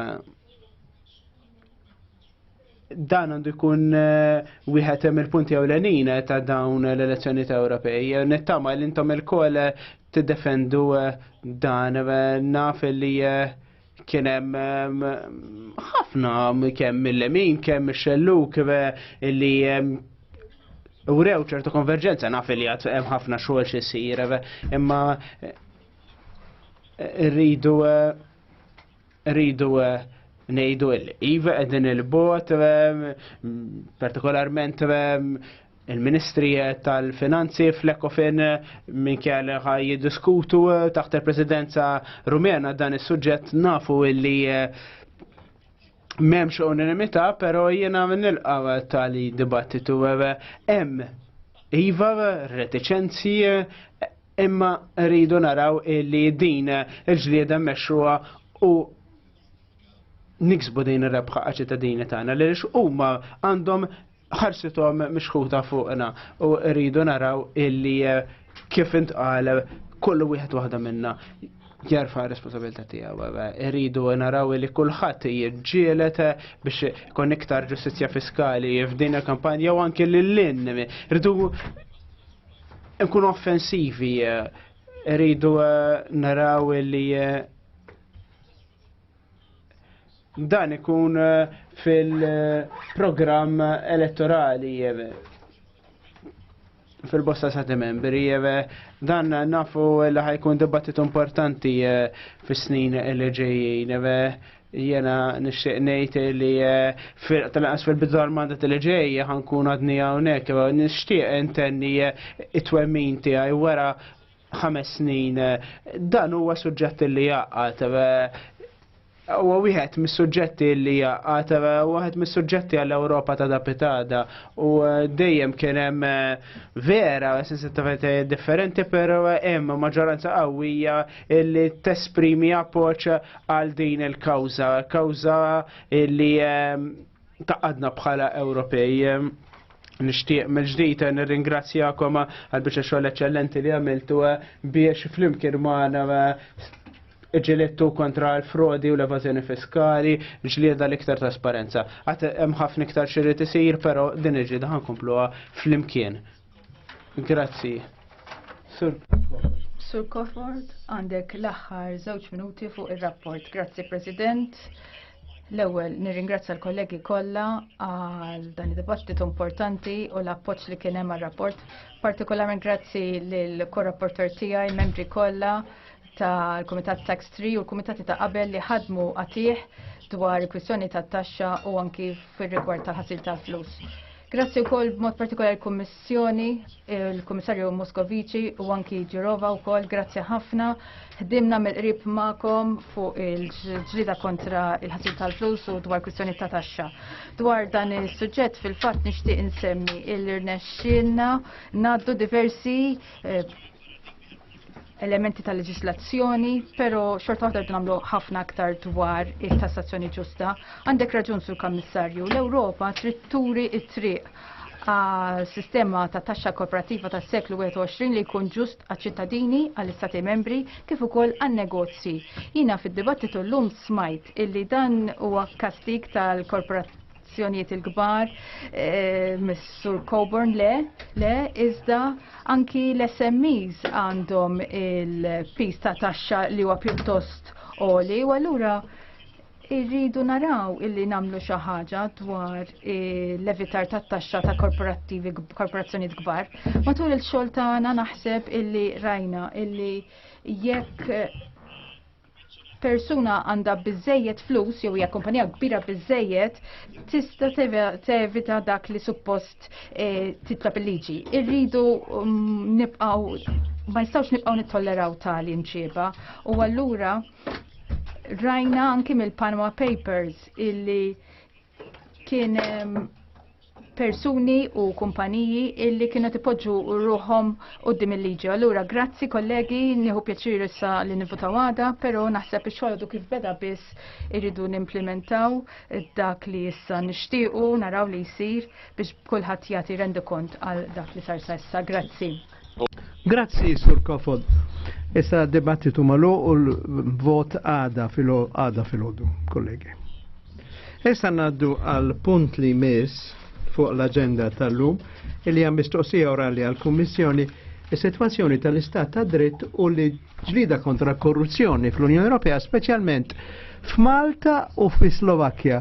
dan għandu jkun eh, wieħed hemm il-punti ewlenin eh, ta' dawn l-elezzjoni ta' Ewropej. Eh, nittama li intom il-kol tiddefendu dan naf li kien hemm ħafna kemm mill-lemin, kemm ix-xelluk li urew ċertu konverġenza naf li għad hemm ħafna xogħol xi jsir imma Rridu eh, rridu eh, nejdu il-iva edin il-bot, eh, partikolarment il-Ministri tal-Finanzi fl-Ekofin minn kjali ħaj jiddiskutu taħt il-Presidenza Rumena dan is-suġġett nafu illi memx unanimità, pero jiena nilqa tali dibattitu hemm iva reticenzi Imma rridu naraw li din il-ġlieda mexxuha u niksbu din ir-rebħa ċittadini tagħna li lix huma għandhom ħarsithom mixħuta fuqna u rridu naraw illi eh, kif intqal kollu wieħed waħda minna jarfa responsabilità tiegħu. Eh, irridu naraw li kulħadd jiġġielet eh, biex ikun iktar ġustizzja fiskali f'din il-kampanja u anke lil-lin. Irridu nkunu offensivi, eh, rridu eh, naraw li eh, dan ikun fil-programm elettorali fil-bosta sa' membri dan nafu li ħajkun dibattitu importanti fis-snin li ġejjin Jena nixtieq ngħid li eh, tal-qas fil-bidu tal-mandat li ġej ħankun għadni hawnhekk, eh, nixtieq intenni eh, it-twemmin tiegħi wara ħames snin. Dan huwa suġġett li jaqgħad huwa wieħed mis-suġġetti li jaqgħad wieħed mis-suġġetti għall-Ewropa ta' dapitada u dejjem kien hemm vera sensittività differenti però hemm maġġoranza qawwija li tesprimi appoġġ għal din il-kawza, kawza li ehm, taqadna bħala Ewropej. Ehm, nishtiq mill-ġdijt nirringrazzjakom għal biex xogħol eċċellenti li għamiltu eh, biex flimkien magħna eh, ġilittu kontra l-frodi u l-evazjoni fiskali, ġlieda l-iktar trasparenza. Għat hemm ħafna iktar xirrid isir, però din il-ġlieda ħankompluha flimkien. Grazzi. Sur Sur Kofort, għandek l-aħħar żewġ minuti fuq ir-rapport. Grazzi President. L-ewwel nirringrazzja l-kollegi kollha għal dan id-dibattitu importanti u l-appoġġ li kien hemm għar-rapport. Partikolarment grazzi lill korrapporter tiegħi, membri kollha ta' l-Kumitat Tax 3 u l-Kumitati ta' qabel li ħadmu għatih dwar il-kwistjoni ta' taxxa u anki fir-rigward ta' ħasil tal-flus. Grazzi wkoll b'mod partikolari l-Kummissjoni, il-Kummissarju Moskovici u anki Ġirova wkoll, grazzi ħafna. Ħdimna mill-qrib magħkom fuq il-ġlida kontra il-ħasil tal-flus u dwar kwistjoni ta' taxxa. Dwar dan is-suġġett fil-fatt nixtieq insemmi il-irnexxinna ngħaddu diversi eh, elementi ta' leġislazzjoni, pero xorta waħda nagħmlu ħafna aktar dwar it-tassazzjoni ġusta. Għandek raġun sur kammissarju, l-Ewropa trid turi it-triq sistema ta' taxxa korporattiva tas seklu 21 li jkun ġust għaċ-ċittadini għall-istati membri kif ukoll għan-negozji. Jina fid-dibattitu llum smajt illi dan huwa kastig tal-korporattiva l-azzjonijiet il-kbar, eh, Mr. Coburn le, le, iżda anki l-SMEs għandhom il-pis ta' taxxa li huwa pjuttost oli, u allura irridu naraw illi namlu xi ħaġa dwar eh, l-evitar tat taxxa ta' korporattivi korporazzjonijiet kbar. Matul il-xogħol tagħna naħseb illi rajna illi jekk persuna għandha biżejjed flus jew hija kumpanija kbira biżejjed tista' tevita dak li suppost eh, titlob il-liġi. Irridu mm, nibqgħu ma nistgħux nibqgħu nittolleraw tali mġiba u allura rajna anki mill-Panama Papers illi Kien ehm, persuni u kumpaniji illi kienu tipoġġu ruħom qoddim il-liġi. Allura, grazzi kollegi, nieħu pjaċir issa li nivutaw għada, pero naħseb ix-xogħol kif beda biss irridu nimplementaw dak li issa nixtiequ naraw li jsir biex kulħadd jagħti rendu kont għal dak li sar sa issa. Grazzi. Grazzi, Sur Kofod. Issa dibattitu malu u l-vot għada fil-għada fil-ħodu, kollegi. Issa naddu għal punt li mis fuq l-agenda tal-lum il hija mistoqsija orali għal kummissjoni is-sitwazzjoni tal-istat ta' dritt u li ġlida kontra korruzzjoni fl-Unjoni Ewropea, speċjalment f'Malta u fis-Slovakkja